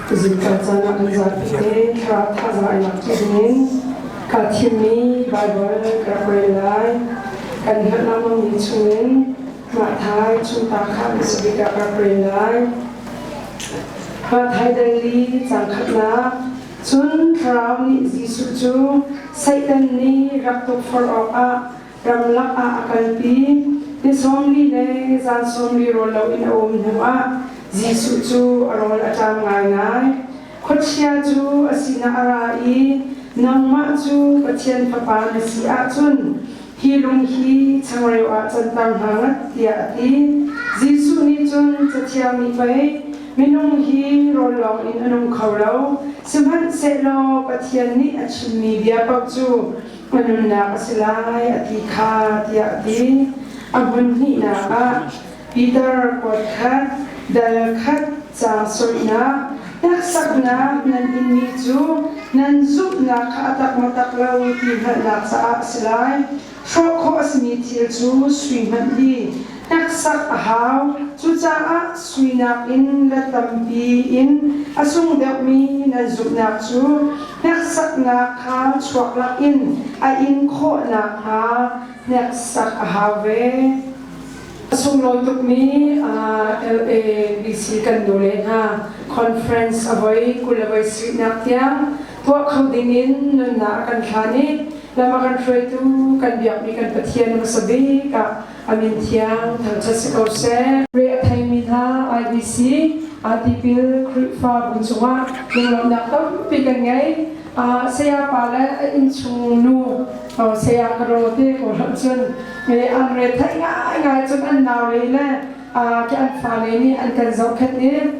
Tuzing kan caan ah mizat te thlarau thazang nak tuzing ka thimi Bible ka pray lai kan herh na mang ni chungin ma thai chunta kha bisabika ka pray lai ma thai dangli changkhatna cun thlarau nih Jesuh cu Satan nih rak tuk for off ah ramlak ah a kalpi. Ni sawmli le zan sawmli rawl loin a um hnuah Jesuh cu a rawl a ṭam ngaingai. Khuachia cu a sinah a ra i, Nangmah cu Pathian Fapa na si ahcun hi lung hi changreu ah canter hna ngat, tiah a ti. Jesuh nih cun, Cathiangmi pei, minung hi rawl lawngin a nung kho lo, sihmanhsehlaw Pathian nih a chimmi bia paoh cu ka nunnak a si lai a ti kha tiah a ti. A hmun hnihnak ah Peter kuat khat, dal khat, caang soihnak, hneksaknak nan inmi cu nan zumhnak kha a tak maw tak lo ti hngalhnak caah a si lai. Hrawh khawh a simi thil cu sui hmanh hi Hneksak a hau. Cucaah suinak in le tampi in a sung deuhmi nan zumhnak cu hneksaknak kha chuaklak in a in khawh nakhnga hneksak a hau ve. A sunglawi tukmi LABC kan nule hna conference a voi kul a voi suihnak tiang tuah kho dingin nunnak a kan thlan i lam a kan hruaitu kan biakmi kan Pathian hmasa bik ah Amin thiang thangṭhat si ko seh. Re a theimi hna IEC, Atipil Khrihfabu cungah lunglawmhnak tampi kan ngei. Sayapa le a innchung nu saya Karo te ko hloh cun an re theih ngaingai cun an naule le an fale nih an kan zohkhenh i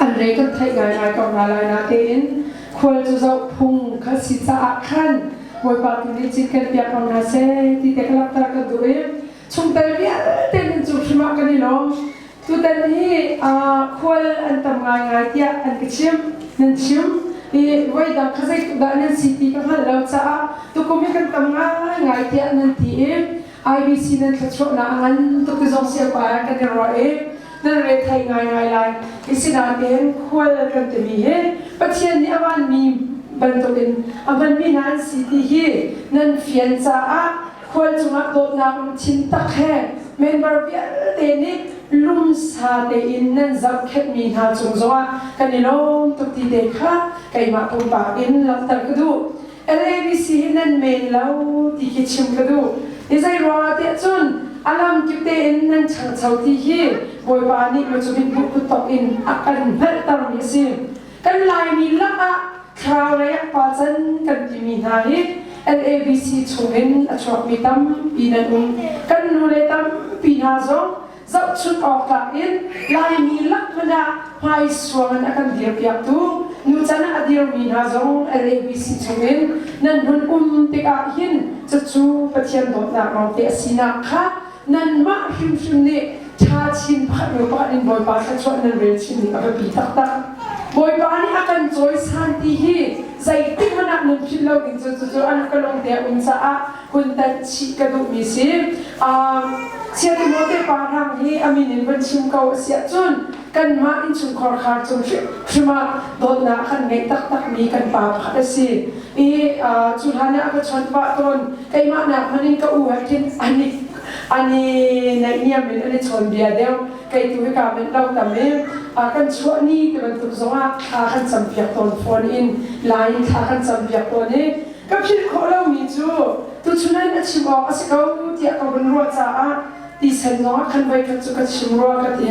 an re kan theih ngaingai ko hna lai na tein khual cu zohphung kan si caah khan Bawipa tu nih cikkel piak ko hna seh ti te ka langhter kan duh i chungtel vialte hin cu hrim ah kan i lawm. Tutan hi khual an tam ngaingai tiah an ka chim nan chim i voidang kha zeitu dah nan si ti ka hngalh lo caah tukum hi kan tam ngaingai tiah nan ti i IBC nan thluachuahnak a ngan tuk ti zong siangpaar kan i ruah i nan rethei ngaingai lai. Isinain khual kan timi hi Pathian nih a vanmi bantukin a hmanmi hna an si ti hi nan fian caah khual cungah dawtnak lungthin tak he member vialte nih lumsa tein nan zohkhenhmi hna cung zongah kan i lawm tuk ti te kha keimah pumpak in langhter ka duh. LABC hi nan men lo ti khi chim ka duh. Hi zei ruangah tiah cun a lam kip tein nan ṭhangcho ti hi Bawipa nih lucubin hmuh kuttawk in a kan hngalhtermi a si. Kan Laimi lakah thlaraulei ah palcan kan timi hna hi LABC chungin a chuakmi tampi nan um. Kan nule tampi hna zong Zohchunh awktlak in Laimi lak hmanh ah hmaisuang in a kan dirpiaktu nucan ah a dirmi hna zong NABC chungin nan hun um tikah hin cucu Pathian dawtnak lawngte a sinak kha nanmah hrimhrim nih ṭha chin pakhat nu pakhat in Bawipa thluachuah nan rel chinmi a biapi taktak. Bawipa nih a kan cawisan ti hi zeitik hmanh ah nan philh lo ding cu cucu an ka lawngte a um caah hun tanh chih ka duhmi si. Chia Timote pa hrang hi a min in van chim ko a si ahcun kanmah innchungkhar khar cung hrim ah dawtnak kan ngeih taktakmi kan pa pakhat a si. I cu hlan ah ka chawnh pah tawn keimah nak hmanh in ka u he khin an i naihniam in an i chawnbia deuh kei tu hi kaa benh lo tam i kan chuah ni ti bantuk zong ah thla kan campiak tawn fawn in lai in thla kan campiak tawn i Ka philh khawh lomi cu tuchun in a chim awk a si ko tiah ka hun ruah caah tisen zong ah khan voikhat cu ka chim rua ka ti.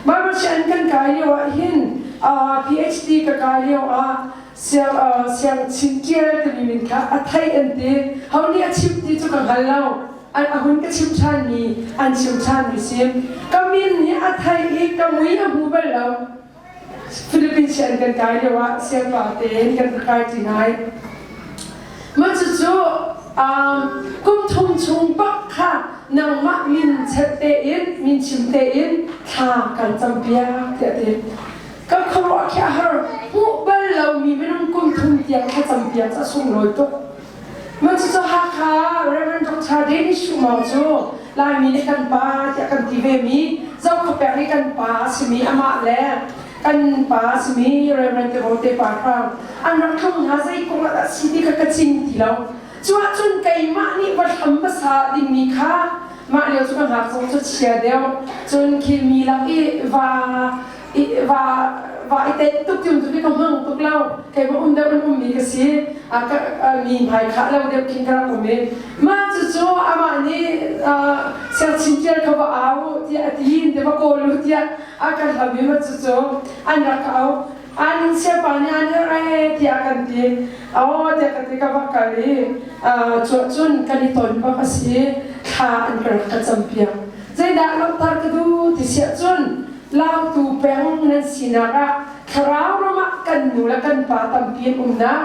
Mamachian kan kai lio ahhin PhD ka kai lio ah siang chin ṭial timi min kha a thei an ti. Ho nih a chim ti cu ka hngal lo. A hun ka chim ṭhanmi an chim ṭhanmi si. Ka min nih a thei i ka mui a hmu bal lo. Philippines sian kan kai lio ah siangpa tein kan ka kai ti ngai. Mah cucu um, kum thum chung bak kha nangmah min chet tein, min chim tein thla kan campiak tiah ti. Kan khuaruah khi a har hmuh bal lomi minung kum thum tiang kha campiak cu a sunglawi tuk. Mansusa Hakha Reverend Dr. Danny Shumong cu Laimi nih kan pa tiah kan ti ve mi Zokhawpeng i kan pa a simi amah le kan pa a simi Reverend Tirote Parhrang an rak tlung hna zei kong ah dah si ti kha ka cing ti lo cuah cun keimah nih va hlam hmasa dingmi kha mah lio cu ka hngak zong cu chia deuh cun khilmi lak i va va va i tet tuk tiun tu ka hmang tuk lo kei ma um deuh an um mi ka si mi hmai khah lo deuh kin ka rak um i ma cu cu amah nih serchin tial ka va au tiah a ti te va kawlu tiah a kan hlau mi ma cu cu an rak au an siapa nih an re tiah kan ti aw tiah ka ti ka va kal i cuah cun kan i ton bak a si thla an ka rak ka campiak zeidah lohthar ka du ti siah cun Tlautu peng nan sinak ah thlarau ram ah kan nu le kan pa tampi an umnak,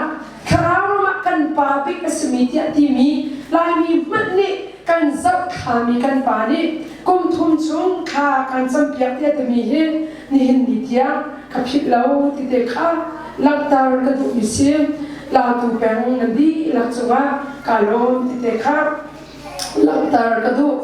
thlarau ram ah kan pa bik a simi tiah timi Laimi hmanh nih kan zoh khami kan pa nih kum thum chung thla kan campiak tiah timi hi nihin ni tiang ka philh lo ti te kha langhter ka duhmi si. Latu peng na dihlak cungah ka lawm ti te kha langhter ka duh.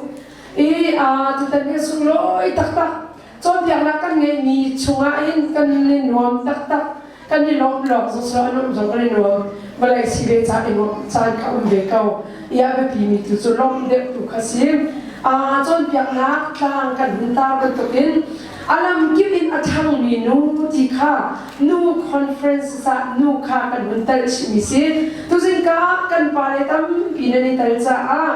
i tutan hi sunglawi taktak cawnpiaknak kan ngeihmi chungah in kan i nuam taktak kan i lawm lawng zungzal an um zong kan i nuam vawlei si ve caan i nuamh caan ka um ve ko i a biapi mi tu cu lawmh deuh tu kha si cawnpiaknak tlang kan hun tar bantukin a lamkip in a ṭhangmi nu ti kha nu conferences ah nu kha kan hun tel chihmi si tuzingka kan pale tampi nan i tel caah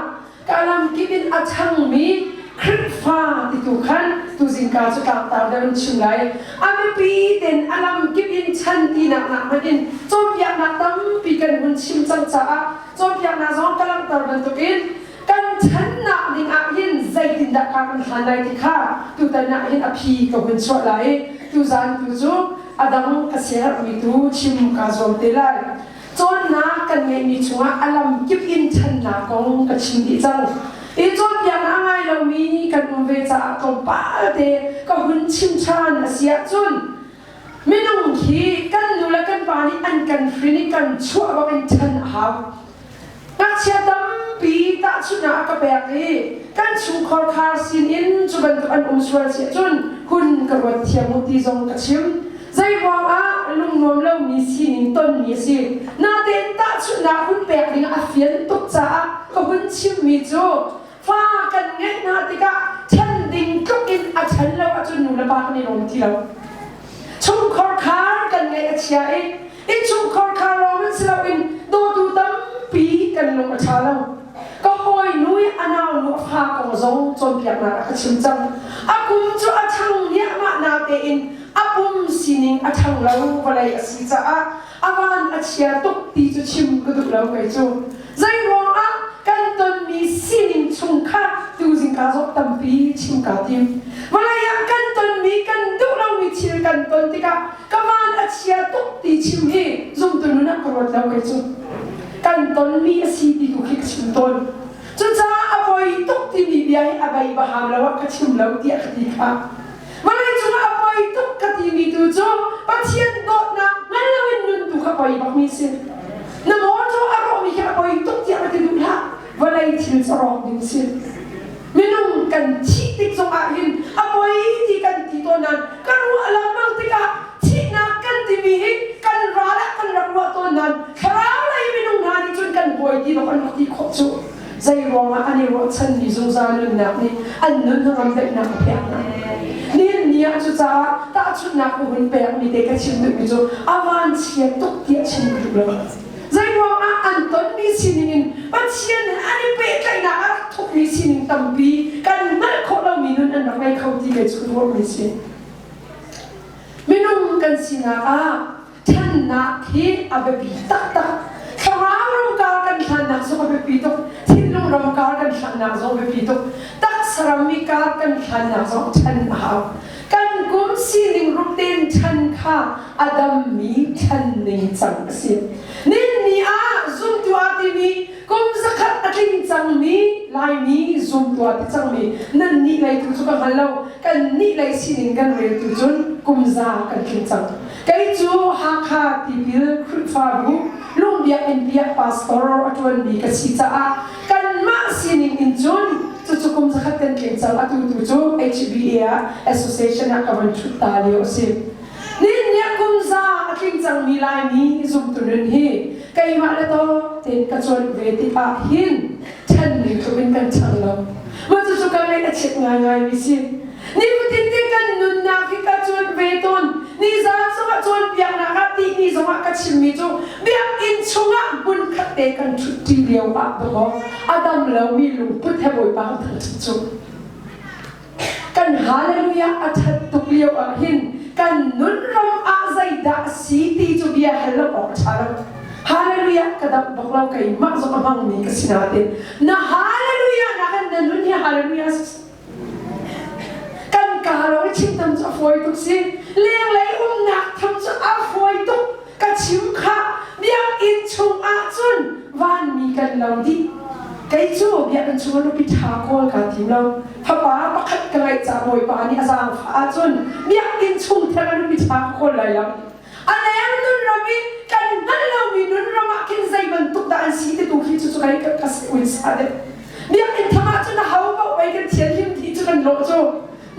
ka ram kip in a changmi Khrihfa ti tu khan tuzing ka cu tlangtar deuh in chim lai. A biapi ten a lam kip in chan tinak nak hmanh in cawnpiaknak tampi kan hun chim cang caah cawnpiaknak zong ka langhter bantukin kan channak ding ah hin zeitindah ka kan hlan lai ti kha tutan ah hin a phi ka hun chuah lai. Tuzan tu cu a dang a sermi tu chim ka zuam te lai. cawnnak kan ngeihmi cungah a lam kip in ṭhannak kong ka chim dih cang. Hi cawnpiak a ngai lomi kan um ve caah tlawmpal te ka hun chim ṭhan a si ahcun minung khi kan nu le kan pa nih an kan hrin i kan chuah bak in ṭhan a hau. Ngakchia tampi tahchunhnak a ka pek i kan chungkhar khar sinin cu bantuk an um sual si ahcun hun ka ruat thiam u ti zong ka chim. Zeiruangah lungnuam lomi sining tonmi a si. Natein tahchunhnak hun pek ding a fian tuk caah ka hun chimmi cu fa kan ngeih hna tikah ṭhen ding tluk in a ṭhen lo ahcun nu le pa kan i lawm ti lo. Chungkhar khar kan ngeih a chia i in chungkhar khar lawng in si loin dawtu tampi kan lung a ṭha lo. Ka hawinu i a naunu a fa kong zong cawnpiaknak ah ka chim cang. A kum cu a ṭhang niahmah natein a pum sining a ṭhang lo vawlei a si caah a van a chia tuk ti cu chim ka duh lo kei cu. Zei ruangah kan tonmi sining chung kha tuzing kaa zok tampi chim kaa tim. Vawlei ah kan tonmi, kan duh lomi thil kan ton tikah ka van a chia tuk ti chim hi zumtu nun ah ka ruat lo kei cu. Kan tonmi a si ti tu khi ka chim tawn. Cucaah a voi tuk timi bia hi a bei baham lo ah ka chim lo tiah ka ti kha Vawleicung ah a poi tuk ka timi tu cu Pathian dawtnak hngal loin nun tu kha poi bakmi si. Na mawṭaw a rawhmi khi a poi tuk tiah ka ti duh hlah. Vawlei thil cu rawng ding si. Minung kan thih tik zong ah hin a poi ti kan ti tawn nain ka ruah lengmang tikah thihnak kan timi hi kan ral ah kan rak ruah tawn nain thlarau lei minung hna nih cun kan buai ti lo kan rak ti khawh cu. Zei ruangah an i ruahchanmi zungzal nunnak nih an nun ram daihnak a pek hna. Nihin ni ah cucaah tahchunhnak ka hun pekmi te ka chim duhmi cu a vanchia tuk tiah chim duh lo. Zei ruangah an tonmi sining in Pathian he an i pehtlaihnak a rak thukmi sining tampi kan hngalh khawh lomi nun an rak ngei kho ti ve cu ka ruahmi a si. Minung kan sinak ah Thannak hi a biapi taktak. Thlarau rokar kan hlannak zong a biapi tuk. Thinlung rokar kan hlannak zong a biapi tuk. Taksa rammi kar kan hlannak zong ṭhan a hau. Kan kum sining ruk tein ṭhan kha a dammi thlan ning cang a si. Ninni ah zumtuah timi kum zakhat a tling cangmi Laimi zumtuah ti cangmi nan nih lei tu cu ka hngal lo. Kan nih lei sining kan reltu cun kum za kan tling cang. Kei cu Hakha tipil Khrihfabu Lung Biakinn tiah pastor a ṭuanmi ka si caah kanmah sining in cun cucu kum zakhat kan tlin cang. Atu tu cu HBA ah association ah ka von ṭhut ta lio a si. Nihin niah kum za a tling cangmi Laimi zumtu nun hi keimah le to tein ka cuanh ve tikah hin ṭhan ning tluk in kan chang lo. Mah cucu ka ngaih a chiat ngaingaimi si. Nifatin te kan nunnak hi ka cuanh ve tawn. Nizan zongah cawnpiaknak ah tihni zongah ka chimmi cu biakinn chungah hmun khat te kan ṭhutṭi lio ah dawh a dam lomi lungput he Bawipa kan thangṭhat cu. Kan hallelujah a ṭhat tuk lio ahhin kan nunram ah zeidah a si ti cu bia hal lo awk a ṭha lo. Hallelujah ka damh bak lo keimah zong a hmangmi ka si nain na hallelujah nakin na nun hi hallelujah a si. kan ka ro i chimtam cu a fawi tuk si lenglei umnak tham cu a fawi tuk ka chim kha biakinn chungah cun vanmi kan lo dih kei cu biakinn chungah nupi ṭha kawl kaa tim lo fapa pakhat ka ngeih ca bawipa nih a zaangfah ahcun biakinn chung theng a nupi ṭha ka kawl lai lo A leng nunram i kan hngalh lomi nunram ah khin zei bantuk dah an si ti tu khi cu kai ka ka ui sa de biakinn thangah cun ho paoh pei kan thianhlim ti cu kan rawh cu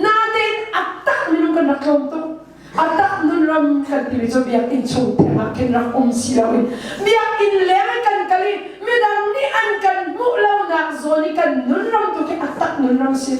natein a tak nunram kan rak tlawm tuk a tak nunram kan timi cu biakinn chung thengah khin rak um si loin biakinn leng i kan kal i midang nih an kan hmuh lonak zawn i kan nunram tu khi a tak nunram si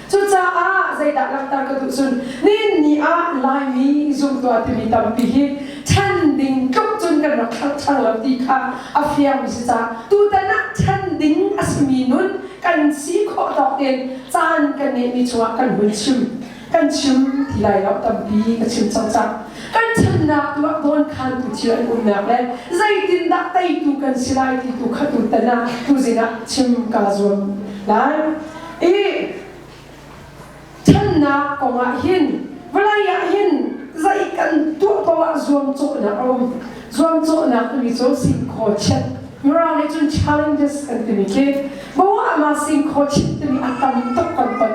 Cucaah zeidah langhter ka duh cun ninni ah Laimi zumtua timi tampi hi ṭhen ding tluk cun kan rak hranghrang lo ti kha a fiang mi si caah tutan ah ṭhen ding a simi nun kan si khawh tawk in caan kan ngeihmi chungah kan hun chim kan chim ti lai lo tampi ka chim cang cang kan chimnak tuah dawn khan tu thil an umnak le zeitindah teitu kan si lai ti tu kha tutan ah tuzin ah chim kaa zuam lai i channak kongah hin vawlei ah hin zei kan tuah ko ah zuamcawhnak a um zuamcawhnak timi cu sin khaw chiat Mirang nih cun challenges kan timi khi bawah ma sin khaw chiat timi a tam tuk kan ton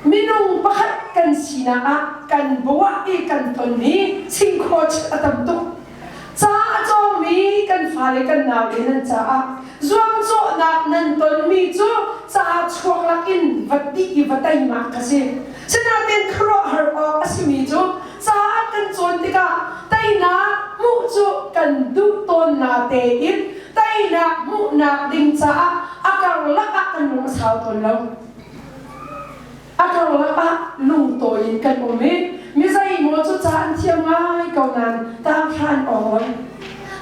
minung pakhat kan sinak ah kan bawah i kan ton hi sin khaw chiat a tam tuk Ca a cawngmi kan fale kan nau le nan caah zuamcawhnak nan tonmi cu ca chuak lakin va ttih i va teimak ka si. Sinain khuaruahhar awk a simi cu ca ah kan cawn tikah teinak hmuh cu kan duh tawnnak tein teinak hmuhnak ding caah a karlak ah kan lung a sau tawn lo. A karlap ah lungtawi in kan um i mizei maw cu ca an thiam ngai ko nain tang hran awn.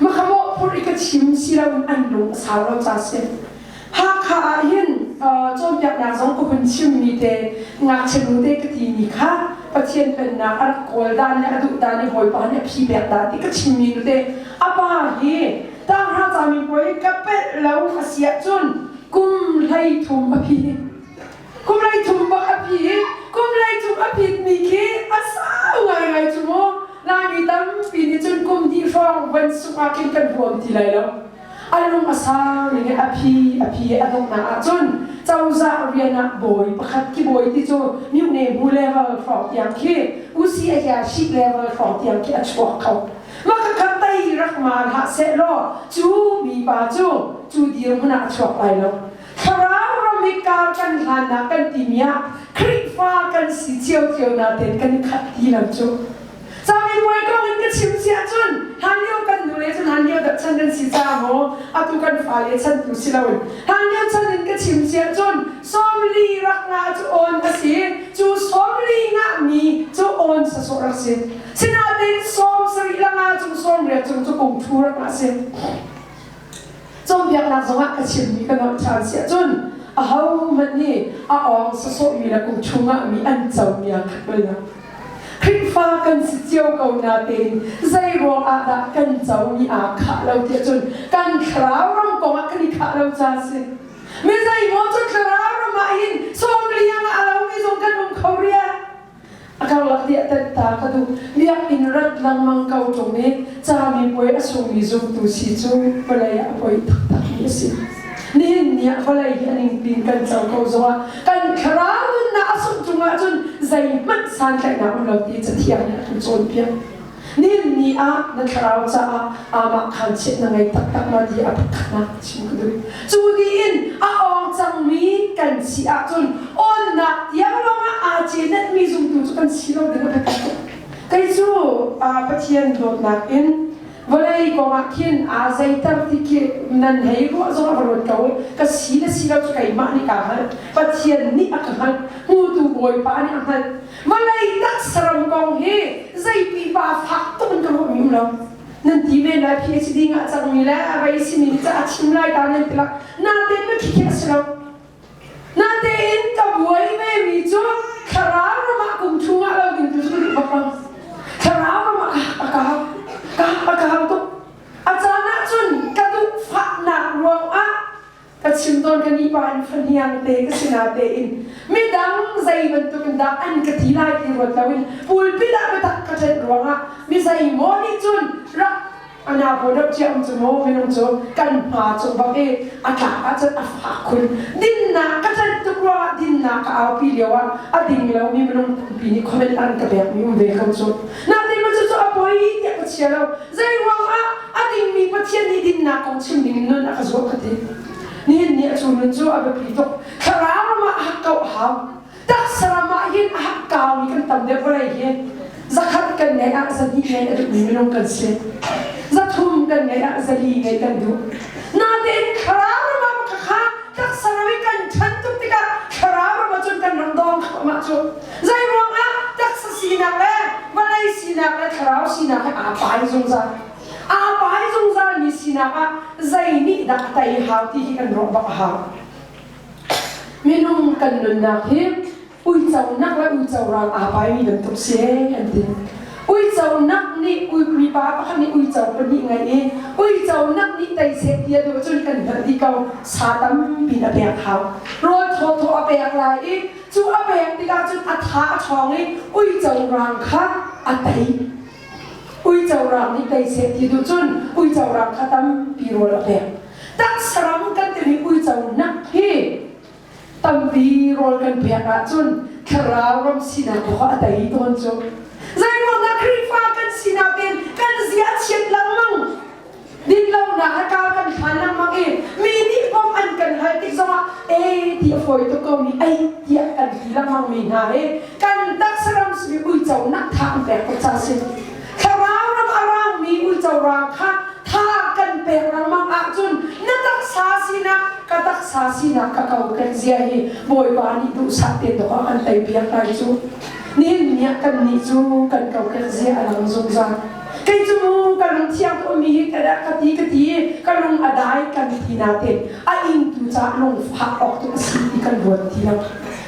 Makhamawh phur i ka chim si lo in an lung a sau lo ca si. Hakha ah hin cawnpiaknak zong ka hun chimmi te ngakchianu te ka ti mi kha Pathian Pennak a rak kawl dan le a duh dan i hawipa nih a phi pek dah ti ka chimmi nu te a pa hi Tanghra camin puai ka pelh lo a si ahcun kum hlei thum a phi kum lei cung bak a phi kum lei cung a phit mi khi a sau ngaingai cu mu lami tampi nih cun kum hnih hrawng van sungah khin kan huam ti lai lo a lung a sang i a phi a phi a dukna ah cun cozah rian ah bawi pakhat ki bawi ti cu miu ne bu level hrawng tiang khi usi a hia shi level hrawng tiang khi a chuak kho maka ka tai rak ma la se lo cu mi pa cu cu dir hmunah chuak lai lo Thlarau ram i kar kan hlannak kan timi ah Khrihfa kan si ciocio natein kan i khat ti lam cu. Camipuai kong in ka chim si ahcun hlanlio kan nu le cun hlanlio dap chan kan si caah maw atu kan fale chantu si loin hlanlio chan in ka chim si ahcun somli rak ngah cu awn ka si cu somli ngahmi cu awn sasawh rak si sinatein som sarih la nga cung som riat cung cu kung ṭhu rak ngah si Cawnpiaknak zongah ka chimmi ka nolh ṭhan si ahcun ahohmanh nih a awng sawsawhmi le kum chungah mi an cobia kha ka lang. Khrihfa kan si cio ko natein zei ruangah dah kan comi aa khah lo ti ahcun kan thlarau ram kongah kan i khah lo ca a si. Mi zeimaw cu thlarau ram ah hin sawm liang ah a lomi zong kan um kho rih. A karlak nih a tanh ta ka duh. Biakinn rat lengmang ko ṭung i cami puai a sungmi zumtu si cu vawlei ah a poi taktakmi a si. Nihin ni ah vawlei hi a ningpi in kan co ko zongah kan thlarau nunnak a sungh chung ahcun zeihmanh santlaihnak um lo ti cathiang nih a kan cawnpiak. Nihin ni ah na thlarau caah aamah khaanchiat na ngei taktak ma ti a pakhatnak chim ka duh. Cu tiin a awng cangmi kan si ahcun awnnak tiang lawngah aa cenatmi zumtu cu kan si lo ding a pakhat. Kei cu Pathian dawtnak in vawlei kongah khin aa zeiter ti khi nan hei ruah zong a va ruat ko. Ka si le si lo cu keimah nih kaa hngalh. Pathian nih a ka hngalh. Hmutu Bawipa nih a hngalh. Vawlei tak saram kong hi zei pipa fak tuk in ka ruah ngam lo. Nan ti men lai PhD ngah cangmi le a rai simi nih a chim lai ta nan ti lah. Natein na khi a si lo. Natein ka buai ve mi cu thlarau ramah kum chungah lo in tu cu va fang. Thlarau ramah a ka ka a ka tuk. A caan ahcun ka duh fahnak ruangah Ka chim tawn ka ni pa in fahniang te ka si na tein midang zei bantuk in dah an ka ti lai ti ruat lo in pulpit ah ka tak ka tlet ruangah mi zei maw nih cun rak ana bo deuh cia um cu maw minung cu kan hma cu bak i a tla ah cun a fak khun dinnak ka tlet tuk ruangah dinnak ka aupi lio ah a ding lo mi minung tampi nih comment an ka pek mi um ve ko cu na te ma cu cu a poi tiah ka chia lo zei ruangah A dingmi Pathian nih dinnak kong chim dingin nun a ka zuam ka ti. Nihin ni a cu nun cu a biapi tuk. Thlarau ram ah a hak kauh a hau. Taksa ram ah hin a hak kaumi kan tam deuh vawlei hi zakhat kan ngeih ah zahnih ngeih a duhmi minung kan si. Zathum kan ngeih ah zali ngeih kan duh. Natein thlarau ram ah maka kha taksa ram i kan ṭhan tuk tikah thlarau ram ah cun kan ram dawng thluahmah cu Zei ruangah taksa sinak le vawlei sinak le thlarau sinak he aa tlai zungzal. Aa tlai zungzalmi sinak ah zei nih dah a tei hau ti hi kan ruah bak a hau. Minung kan nunnak hi uiconak le uicorang aa paimi bantuk si kan ti. Uiconak nih mipa pakhat nih uico pahnih ngeih i uiconak nih tei seh ti a duh cun kan hngalh dih ko. Sa tampi a pek hau. Rawl thawthaw a pek lai i Cu a pek tikah cun a tha a ṭhawng i uico rang kha a tei. Uico rang nih tei seh ti duh cun uico rang kha tampi rawl a pek. Taksaram kan timi uico nak hi tampi rawl kan pek ahcun thlarau ram sinak kha a tei tawn cu. Zeiruangah Khrihfa kan sinak in kan zia a chiat lengmang Dinlonak a kau kan hlan lengmang i mi nih bawmh an kan hal tik zongah ee ti a fawi tuk komi ei tiah kan ti lengmang mi hna hi kan taksa ram simi uiconak tha an pek ko ca si. Thlarau ram a rangmi uico rang kha thar kan pek lengmang ahcun na taksa sinak ka taksa sinak ka kokek zia hi Bawipa nih duhsah tein dawh an tei piak lai cu. Nihin ni ah kan nih cu kan kokek zia a lang zungzal. kei cu ka lungthiang ummi hi ka dah ka ti ka ti ka lung a dai kan ti natein a ingtu cah lung fah awk cu a si ti kan ruat ti lo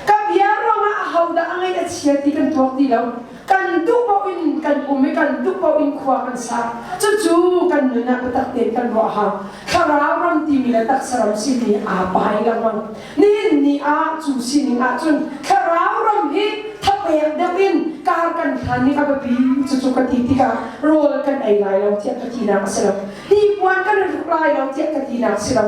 ka bia ruangah a hodah a ngaih a chia ti kan tuak ti lo kan duh paoh in kan um i kan duh paoh in khua kan sa cucu kan nun ah bitak tein kan ruah ha thlarau ram timi le taksa ram simi aa pai lengmang Nihin ni ah cu sining ahcun thlarau ram hi thapek deuh in kar kan hlan i a biapi cucu ka ti tikah rawl kan ei lai lo tiah ka tinak a si lo. Hnipuan kan in hruk lai lo tiah ka tinak a si lo.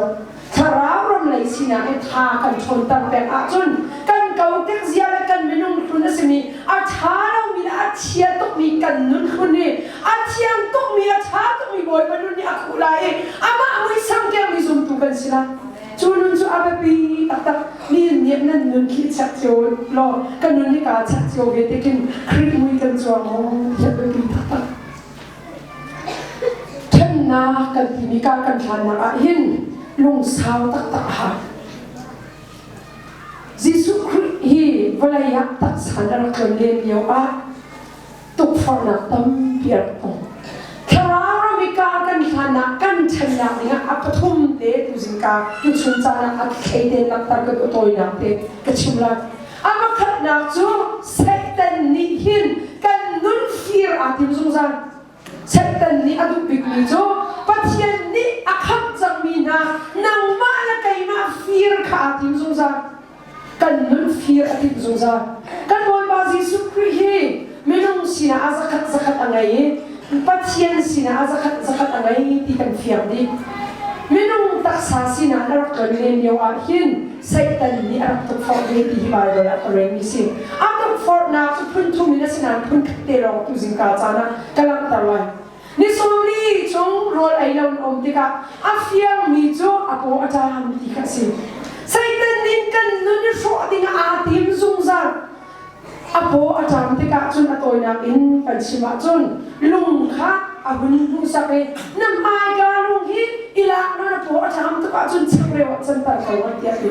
Thlarau ram lei sinak in tha kan ṭhawnter pek ahcun kan kotek zia le kan minung hlun a simi a ṭha lomi le a chia tukmi kan nun hlun i a thiang tukmi, a ṭha tukmi Bawipa nun nih a khuh lai i amah muisam kengmi zumtu kan si lai. Cu nun cu a biapi taktak mi nih nan nun khi chek cio law kan nun hi kaa chek cio ve te kin Krit mui kan cuang maw tiah biapi taktak. Thennak kan timi ka kan thlannak ah hin lungsau taktak a ha. Jesuh Khrih hi vawlei ah taksa na rak tlon len lio ah tukforhnak tampi a ong. Thlarau mi kaa kan hlanah kan ṭhennak dingah a pathum te tu zingka tu chun caan ah a thlei ten laktar kan awtawinak te ka chim lai. A pakhatnak cu Satan nih hin kan nun fir aa tim zungzal. Satan nih a duh bikmi cu Pathian nih a khamh cangmi hna nangmah le keimah fir kha aa tim zungzal. kan nun fir a timh zungzal kan bawipa jesuh khrih hi minung sinah a zakhat zakhat a ngei i pathian sinah a zakhat zakhat a ngei ti kan fiang dih minung taksa sinah na rak kan len lio ah hin Satan nih a rak tukforh ve ti hi Bible ah ka relmi si a tukforhnak cu phun thum in a si nain phun khat te lawng tu zingka caan ah ka langhter lai Nisarli cu rawl ei lo an um tikah a fiangmi cu a paw a ṭam ti kha a si. Satan nih kan nun i hrawh dingah aa tim zungzal. A paw a ṭam tikah cun a tawinak in kan chim ahcun lung kha a hun hmuhsak i na hmaika lung hi i lak law na paw a ṭam tuk ahcun changreu ah canter ko tiah a ti.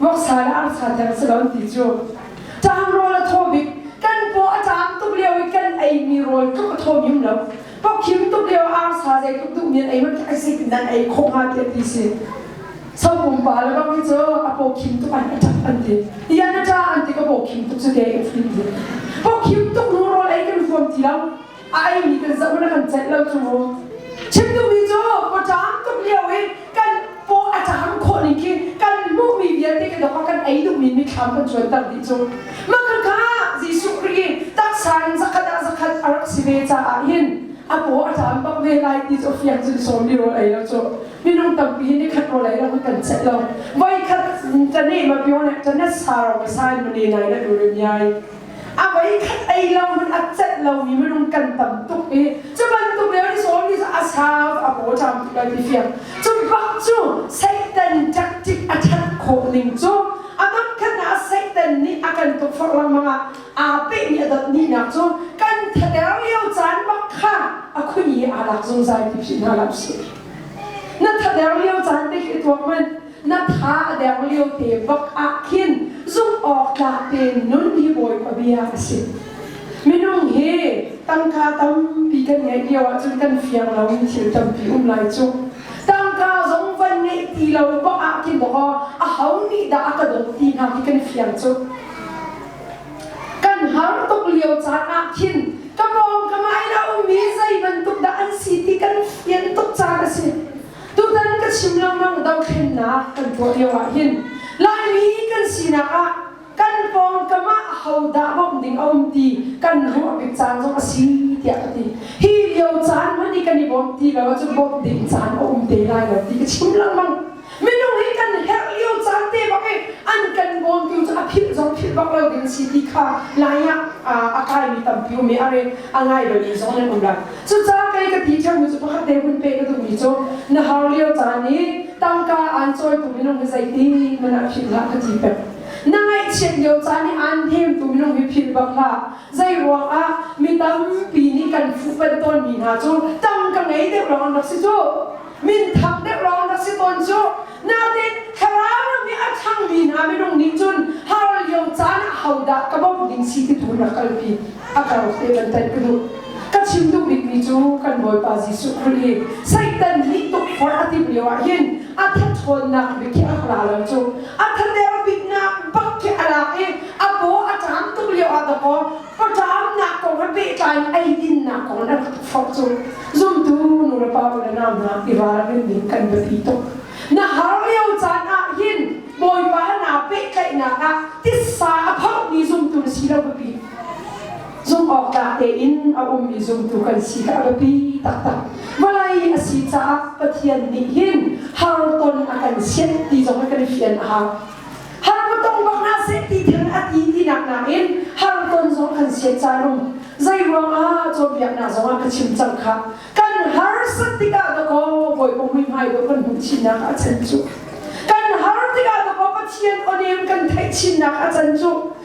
Voksa le arsa tiang si lo ti cu. Caang rawl a thaw bik. Kan paw a caam tuk lio i kan eimi rawl tluk a thaw ngim lo. Pawkhim tuk lio arsa zei tluk duhmi an ei manh a si in an ei khawh hnga tiah ti si. Sau pumpa le bang hi cu a pawkhim tuk an a tap an ti. Ian a ṭa an ti ka pawkhim tuk cu ke ka frit ti. Pawkhim tuk nu rawl ei kan huam ti lo. a eimi kan zoh na kan celh lo cu chim duhmi cu pawṭaang tuk lio i kan paw a ṭaang khawh ning khi kan hmuhmi vialte ka dok a kan ei duhmi mitthlam kan chuanter dih cu mah ka kha Jesuh ri taksa in zakhat ah zakhat a rak si ve caah hin a paw a ṭaang bak ve lai ti cu fiang cun sawmi rawl ei lo cu minung tampi hin ni khat rawl ei lo kan celh lo voikhat ṭane mapione ṭane saro masain muni nai na durim yai A voikhat ei lo in a celh lomi minung kan tam tuk i cu bantuk le is always a serve a bottom ti lai ti fiang. Cu bak cu Satan tactic a that khawh ning cu a dotkhat na Satan nih a kan tukforh lengmang ah aa pehmi a dot nihnak cu kan thater lio caan bak kha a khuni aa lak zungzal ti phi hna hlah usih. Na thater lio caan te khi tuak hmanh na tha a deng liote bak ah khin zumhawktlak tein nun hi Bawipa bia a si. Minung hi tangka tampi kan ngeih lio ahcun kan fiang lomi thil tampi um lai cu. Tangka zong van ngeih ti lo bak ah khin maw a ho nih dah a ka dawt ti hna hi kan fiang cu. Kan har tuk lio caan ah khin ka pawng ka ngai lo mi zei bantuk dah an si ti kan fian tuk caan a si. Tutan ka chim lengmang dohthlennak kan tuah lio ah hin Laimi kan sinak ah kan pawngkam ah ahodah bawmh ding a um ti kan ruah bik caan zong a si tiah ka ti. Hi lio caan hmanh i kan i bawmh ti lo ahcun bawmh ding caan a um te lai lo ti ka chim lengmang. Minung hi kan herh lio caan te bak i an kan bawmtu cu a philh zong philh bak lo ding si ti kha lai ah a kaimi tampi um i a reng a ngai lomi zong an um lai. Cucaah kei ka ti ṭhemu cu pakhat te hun pek ka duhmi cu na har lio caan i tangka aan cawitu minung hi zeiti man ah philh hlah ka ti pek. Na ngaihchiat lio caan i aan themtu minung hi philh bang hlah. Zei ruangah mi tampi nih kan fuhpanh tawnmi hna cu tangka ngei deuh lawng an rak si cu. Minthang deuh lawng rak si tawn cu. Nain, thlarau ram i a ṭhangmi hna minung nih cun har lio caan ah hodah ka bawmh ding si ti tu in a kalpi. A kar te kan tlaih ka duh. Ka chim duh bikmi cu kan Bawipa Jesuh Khrih i Satan nih tukforh a timh lio ahhin a thathawnnak bik khi a rak ra lo cu. A thader biknak bak khi a ra i a paw a ṭam tuk lio ah dakaw Faṭamnak kong he pehtlai in eidinnak kong na rak forh cu zumtu nulepa le nau hna i ralrin ding kan biapi tuk. Na har lio caan ah hin Bawipa hna pehtlaihnak ah tissa a phorhmi zumtu na si lo biapi. Zumh awk tla tein a ummi zumtu kan si kha a biapi taktak. Vawlei a si caah Pathian nih hin har ton a kan sianh ti zong hi kan fian a hau. Harmton bang ah seh ti thil a ti tinak nakin Harmton zong kan sian carum. Zei ruang ah cawnpiaknak zong ah ka chim cang kha. Kan harsat tikah ka ko Bawi Pumui hmai dawh kan hmuh chinnak a can cu. Kan har tikah ka ko Pathian onem kan theih chinnak a can cu.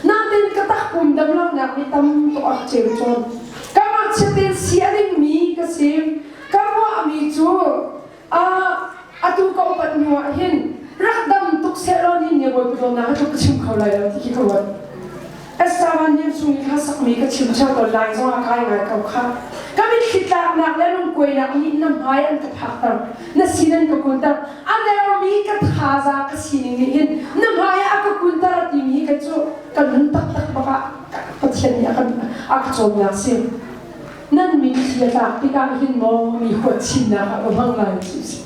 Nain ka tahpum damlonak mi tamtuk a rak ceu tawn. Kamah chiatin si a dingmi ka si. Ka ruahmi cu ah atu ka upat hnu ah hin rak dam tuk sehlaw nihin ne bawipa dawtnak atu ka chim kho lai lo ti hi ka ruat. Estavan Niam chung i kha sakmi ka chim theo tawn lai zong ah kai ngai ko kha. Ka mitthli tlaknak le lungkuainak nih na hmai an ka phakter. Na sin an ka kunter. a dermi ka thazaang ka sining nih hin na hmaiah a ka kunter timi hi kei cu ka nun taktak bak ah Pathian nih a kan a ka cawmnak si nan mitthli a tlak tikah hin maw mi huat chinnak ah ka hmang lai ti si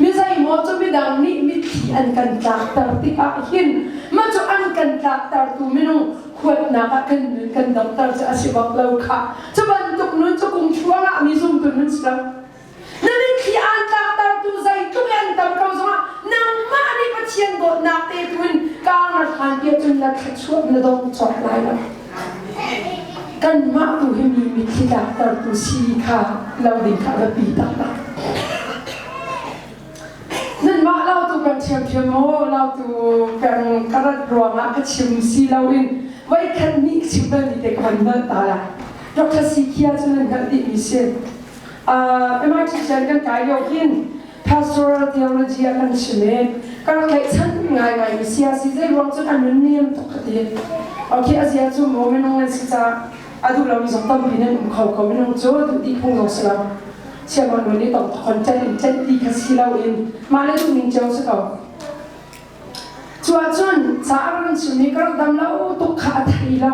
mi zeimaw cu midang nih mitthli an kan tlakter tikah hin mah cu an kan tlaktertu minung huatnak ah kan kan damter cu a si bak lo kha cu bantuk nun cu kung thluang ah mi zumtu nun si lo Na mitthli aan tlaktertu zeitluk in tam ko zongah nangmah nih Pathian dawtnak te tlun kaa ngar hlan tia cun na thluachuah na dong cawk lai lo. Kanmah tu hi mi mitthli tlaktertu si kha lo ding kha a biapi taktak. Nanmah lau tu kan thiamthiam maw, lau tu kan ka rat ruangah ka chim si loin voi khat nih chim bal ni te ka van hngalh ta la. Dr. Sikia cu nan hngalh dihmi si. MIT kan kai lio hin pastoral theology a kan chim i ka rak ngaihchan ngaingai mi siasi zeiruang cun a nun niam tuk ka ti ok a zia cu maw minung nan si caah a duh lomi zong tampi nan um kho ko minung cu duh ti phung zong si lo chiaman nun i tong thon tlanh in tlanh ti kha si lo in mah le duh ning cio si ko cuah cun ca a ran chim i ka rak dam lo tuk kha a thei lo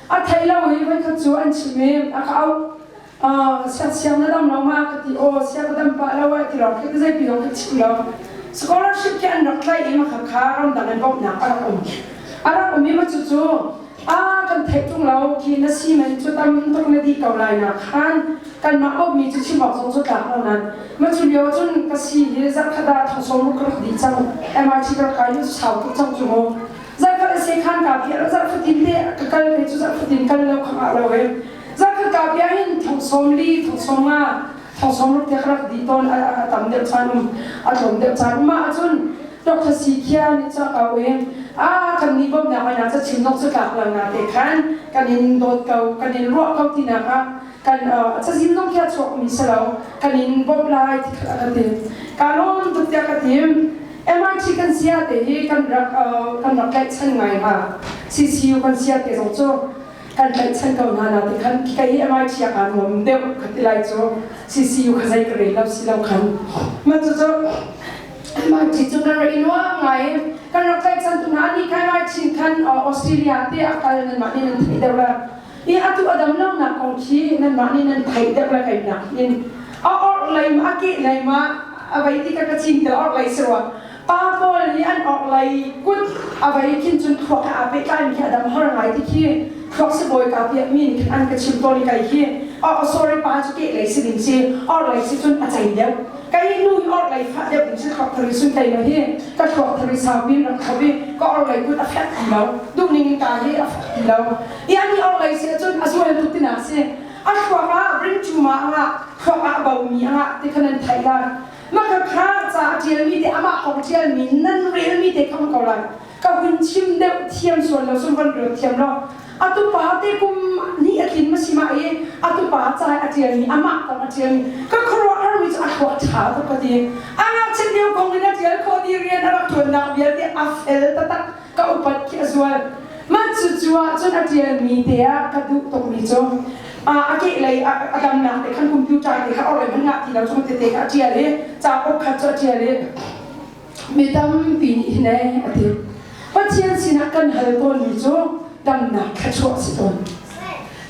a thei lo i voikhat cu an chim i a ka au siangsiang na dam lo ma ka ti aw sia ka dam pa lo ai ti lo ka zei pi dong ka chim lo scholarship ke an rak tlai i ma kha kha ram dang an bawm nak a rak um a rak um i ma chu chu a kan thei tung lo ki na simen chu tam tuk na di ko lai na khan kan ma au mi chu chim ok zong chu tlak lo nat ma chu leo chun ka si hi za khada thong som ru ka di chang MIT ka ka yu sau tu chang chu mo za ka se khan ka bi ra za fatin te ka kal ne chu za fatin kal lo kha lo he Zakhata bia in thongsawm li thongsawm nga thongsawm rak tek rak di ton a tam deuh sanum a tlawm deuh sanum ma acun Dr. Si Khia nih ca kau in a kan ni bawm nak ana ca chim nok cu tlak lang na te khan kan in dawt ko kan in ruah ko ti nak ah kan ca zim nok kia chuak mi se lo kan in bawm lai ti kan ti ka lom tuk tia ka tim MIT kan sia te hi kan rak kan rak tlaih chan ngai hnga CCU kan sia te zong cu kan tlaihchan ko hna na ti khan khika hi amai chiak ah nuam deuh ka ti lai cu CCU kha zei ka rel lo si lo khan man cu cu man ti cu ka rei lo ngai kan rak tlaihchan tu hna ni kai mai chin khan Australia te a kal nan mah ni nan thei deuh la i atu adam lo na kong khi nan mah ni nan thei deuh la kai nak in a or lei ma a ke lei ma a vai ti ka ka chin te or lei se wa pa pawl nih an orhlei kut a vei khin cun thluak he aa pehtlaimi khi a dam har ngai ti khi thluak sibawi ka piakmi nih khan an ka chim tawn i kei hi oh sorry pa cu keh lei si ding si orhlei si cun a cei deuh kei nu i orhlei fah deuh ding si thluak thari sun tei ma hi ka thluak thari saupi in a khop i ka orhlei kut a fek ti lo duhning in ka hi a fek ti lo ian i orhlei si cun a zualtu tina si a thluak ah ring cuma angah thluak ah bomi angah ti khan an theih lai Mah ka khar ca a ṭialmi te, amah kong ṭialmi, nan relmi te kha hmu ko lai. Ka hun chim deuh thiam sual lo cu von rel thiam law, atu pa te kum ni a tlin masimah i atu pa cai a ṭialmi, amah kong a ṭialmi, ka khuaruah harmi cu a thluak ṭha tuk ka ti. A ngakchiat lio kong in a ṭial khawh ti rian a rak ṭuannak vialte a fel taktak. ka upat khi a zual mah cucu ahcun a ṭialmi te ah ka duh tukmi cu a keh lei a damnak te khan computer te kha orai hmanh ngah ti lo cu tete kha a ṭial i capo khat cu a ṭial i mi tampi nih hin a ti Pathian sinah kan hal tawnmi cu damnak thluachuah a si tawn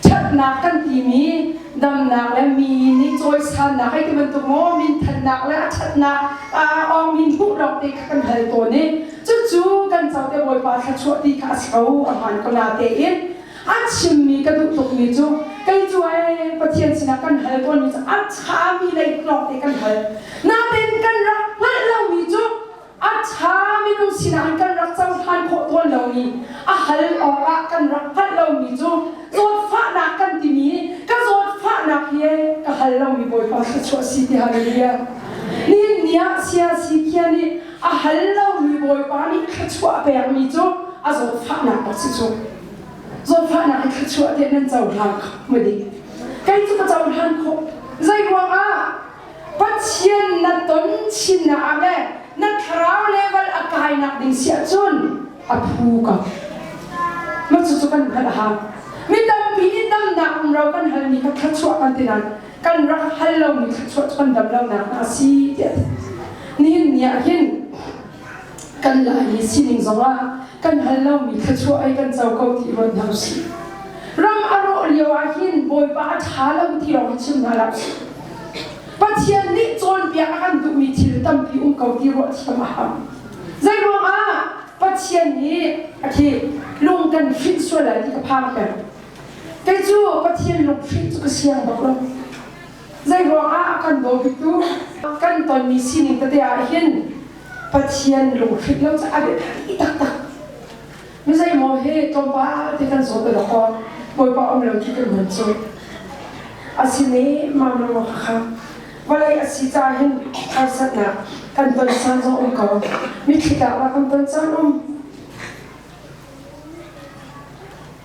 Ṭhatnak kan timi damnak le mi nih cawisannak hei ti bantuk maw minthannak le a ṭhatnak aa awngmi hmuh lawngte kha kan hal tawn i cucu kan co te Bawipa thluachuah ti kha a si ko a hmaan ko natein a chimmi ka duh tukmi cu kei cu ai Pathian sinah kan hal tawnmi cu a ṭhami lei lawngte kan hal natein kan rak hngalh lomi cu A ṭha, minung sinah hin kan rak cohlan khawh tawn lomi, a hal awkah kan rak hngalh lomi cu zawtfahnak kan timi ka zawtfahnak hi ka hal lomi Bawipa thluachuah si ti halleluia. Nihin ni ah siasi khia nih a hal lomi Bawipa nih thluachuah pekmi cu a zawtfahnak a si cu. Zawtfahnak in thluachuah tiah nan cohlan kho maw dih? Kei cu ka cohlan khawh. Zeiruangah? Pathian na ton chinnak le na thlarau level a kainak ding si ahcun a phu ka ma cu cu kan hngalh ha mi tampi nih damnak um ro kan hal mi kha thluachuah kan ti nain kan rak hal lo mi thluachuah cu kan dam lo nak a si tiah nihin ni ah hin kan lai i sining zongah kan hal lomi thluachuah ei kan co ko ti ruat hna usih. Ram a rawh lio ah hin Bawipa a ṭha lo ti lawng hi chim hna la usih. Pathian nih cawnpiak a kan duhmi thil tampi um ko ti ruah thiam a hau. Zei ruangah Pathian nih a thi lung kan hrinh sual lai ti ka phang peng. Kei cu Pathian lung hrinh cu ka siang bak lo. Zei ruangah a kan bawmtu kan tonmi sining tete ah hin Pathian lunghrip lo cu a biapi taktak. Mi zeimaw he tlawmpal te kan zawt lo ko. Bawipa um lo cu kan hun cuh. A si ne mamlung kha vawlei a si ca hin harsatnak kan ton san zong um ko. Mitthli tlak la kan ton cang um.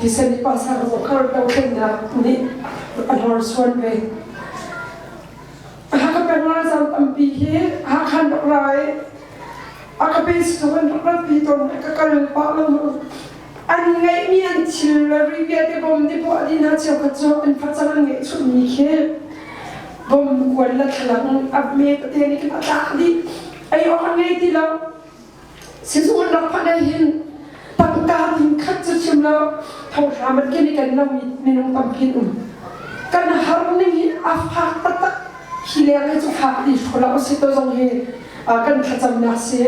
Thisen i pasar rawh kar to thlen da nih a hlor suan ve. Haka penga zam ampi hi hakan rak rai aka base zong an rak pi ton ka kal pa lo an ngai mi an thil le rivia te bom te bo adina cheu ka cho an facang an ngai chu ni khi bom kuan la thlang ab me pate ni ki pata di ai on ngai ti lo Sizun rak phan ei hin pangka thing khat cu chim lo thohram an ken i kan lam minung tamkin um kan har ning hi a fak taktak hi le kai cu fak ti hrola a si to zong hi kan thlacamnak si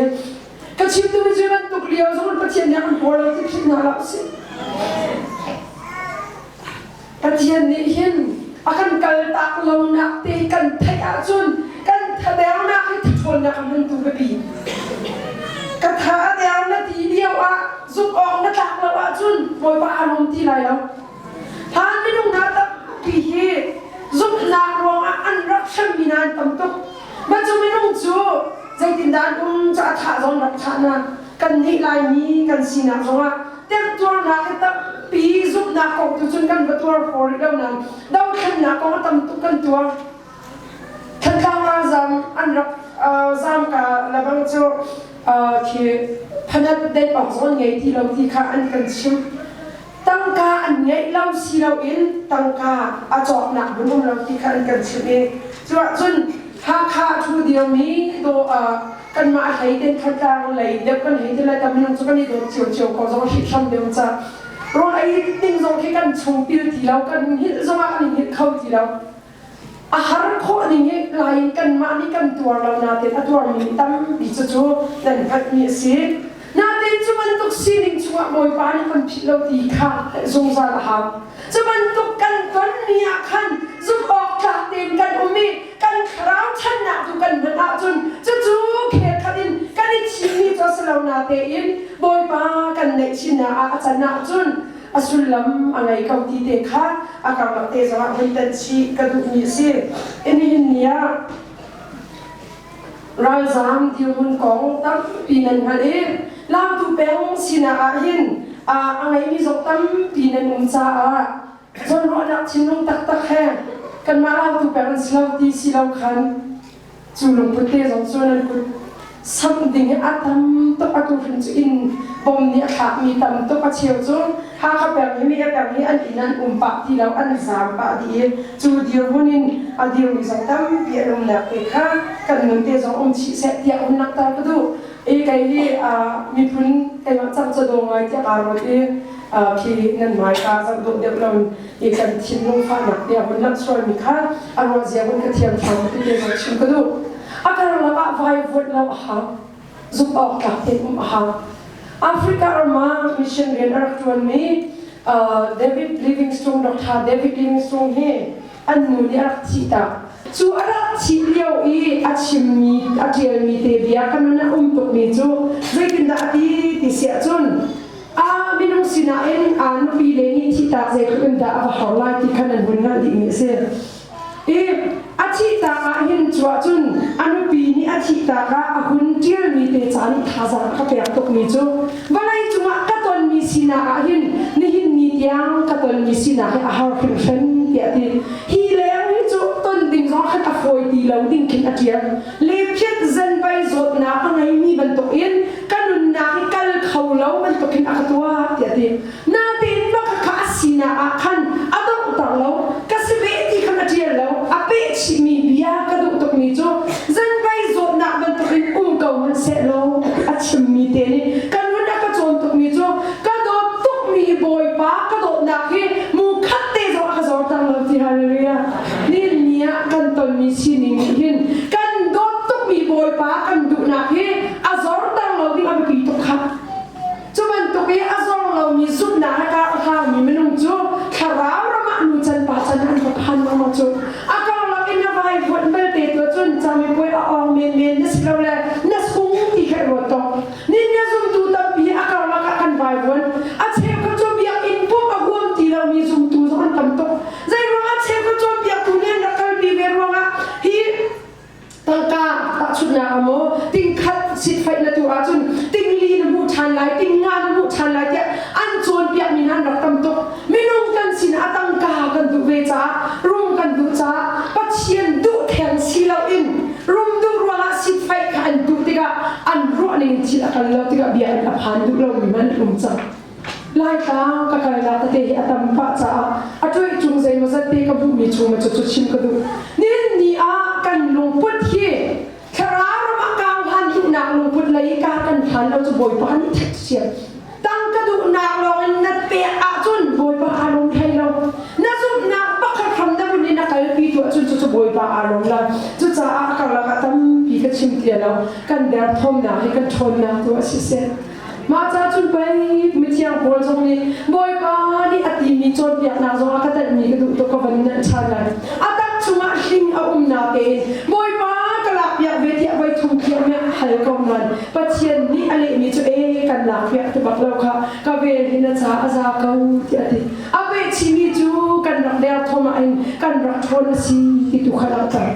ka chim tu mi cu bantuk lio zong an pathian nih an hor lo ti philhna la si Pathian nih hin a kan kaltak lonak te kan theih ahcun kan thadernak hi thaṭhawnnak a hmuntu ka ti. Ka tha a der na ti lio ah zuk awk na tlak lo ahcun Bawipa a rum ti lai lo. Hlan minung hna tampi hi zumhnak ruangah an rak hremmi nan tam tuk. Macu minung cu zeitindah an um cu a thah zong rak thah na kan nih Laimi kan sinak zongah temtuarnak hi tampi zumhnak kong tu cun kan va tuar for rih lo nain dothlennak kong a tam tuk kan tuar Thantlang ah zam an rak zam ka labang cu khi phanat dek ong zawn ngei ti lo ti kha an kan chim tangka an ngei lo si lo in tangka a cawknak bunum lo ti kha an kan chim i cuah cun Hakha thu dirmi do kanmah hlei ten thatlang lei le kan hei til tam nang cu kan i dawt cio cio ko zong hrik hram deu ca rol ei ning zong khi kan chung pil ti lo kan hil zong ah kan hil kho ti lo a har khawh ning he lai in kanmah nih kan tuar lo na te a tuar mi tampi cu cu nan hngat mi a si natein cu bantuk sining chungah bawipa nih kan philh lo ti kha zungzal a hau cu bantuk kan ton mi ah khan zumh awk tlak tein kan um i kan thlarau ṭhatnak tu kan hman ahcun cucu khel khat in kan i thimmi cu a si lo natein Bawipa kan naihchihnak ah a can ahcun a sullam a ngei ko ti te kha a karlak te zong ah vun tanh chih ka duhmi a si. Nihin ni ah ralzaam dirhmun kong tampi nan hngalh i Langtu peng sinah ahhin a ngeimi zong tampi nan um caah Zawnruahnak thinlung taktak he kanmah autu peng an si lo ti si lo khan cu lungput te zong cu nan kut sam ding i a tam tuk atu hrin cu in bom nih a thlak mi tam tuk a cheu cu Hakha peng hi mi peng hi an inn an um pah ti lo an zam pah dih i cu dirhmun in a dir mi zong tampi an um lak te kha kan nun te zong um chih seh tiah hun langhter ka duh i kei hi miphun keimah cang cu dong ngai tiah kaa ruat i phi nan hmai ka zam dawh deuh lo i kan thinlung fahnak tiah hun langhsualmi kha a ruahzia hun ka thiam thawng ti te zoh chim ka duh a kar lakah vai vuat lo a ha zuk awk tlak te um a ha Africa rama mission rian a rak tuanmi David Livingston Dr. David Livingston hi an nu nih a rak thih tak. Cu a rak thih lio i a chimmi, a ṭialmi te bia ka nun a um tukmi cu zeitindah a ti ti siah cun, ah minung sinah in aa nupi le nih thihtak zeitluk in dah a va har lai ti kha nan hun hngalh dihmi a si. I a thihtak ahhin cu ahcun a nupi nih a thihtak ah a hun ṭialmi te ca nih thazang a ka pek tukmi cu vawlei cungah ka tonmi sinak ah hin nihin ni tiang ka tonmi sinak hi a har hrimhrem tiah ti hi leng hi cu ton ding zong khan a fawi ti lo ding khin a ṭial lephiat zanvai zawtnak a ngeimi bantukin ka nunnak hi kal kho lo bantukin a ka tuah tiah ti Natein maka kha a sinak ah khan a donghter lo, ka si ve ti khan a ṭial lo, a peh chihmi bia ka duh tukmi cu zan kai zawtnak bantukin um ko hmanhsehlaw a chimmi te nih ka nun a ka cawn tukmi cu ka dawt tukmi Bawipa ka dawtnak hi mu khat te zong a ka zorter lo ti hallelujah. Ninni ah kan tonmi sining nih hin kan dawt tukmi Bawipa kan duhnak hi a zorter lo ding a biapi tuk kha Cu bantuk i a zawng lomi zumhnak le kar a hlaumi minung cu thlarau ram ah nu can pa can an va phan maw cu a karlak in na vaivuanh belte tu cun camipuai a awng menmen na silole na sung ti he ruat ko nin na zumtu tampi a karlak ah kan vaivuan a cheu cu biak in pumh a huam ti lomi zumtu zong an tam tuk zei ruangah cheu cu biak tu nih an rak kalpi ve ruangah hi tangka tahchunhnak a maw tingkhat sitfaih na tu ahcun tingli na hmuh ṭhan lai tinga na hmuh ṭhan lai tiah an cawnpiakmi nan rak tam tuk minung kan sin a tangka kan duh ve caah rum kan duh caah pathian duh theng si loin rum duh ruangah sitfaih kha an duh tikah an ruahning thil a kal lo tikah bia an a phan duh lomi man rum cang Laitlang ka kailah tete hi a tam pah caah a tuih cung zeimaw zat te ka hmuhmi chung cu cu chim ka duh. Nin ni ah kan lungput hi thlarau ram ah kauhan ihnak lungput lei ka kan hlan lo cu Bawipa han i thek siam. Tang ka duhnak lawng in na pek ahcun Bawipa aa lawm hlei lo. Na zumhnak pakhat hram na bunh i na kalpi tu ahcun cu cu Bawipa aa lawm lai. Cucaah a karlak ah tampi ka chim ti lo. Kan derthawmnak hi kan ṭhawnnak tu a si seh. Mah ca cun pei mithiang Paul zong nih Bawipa nih a timi cawnpiaknak zong ah ka tanhmi ka duh tuk ka van in hngalh ṭhan lai. A tak chungah hling a umnak tein Bawipa ka lakpiak ve tiah voi thum thiang nih a hal ko nain Pathian nih a lehmi cu e kan lakpiak ti bak lo kha ka vel in a ca a za ko ti a ti. A pehchihmi cu kan rak derthawm ah in kan rak ṭhawn a si ti tu kha langhter.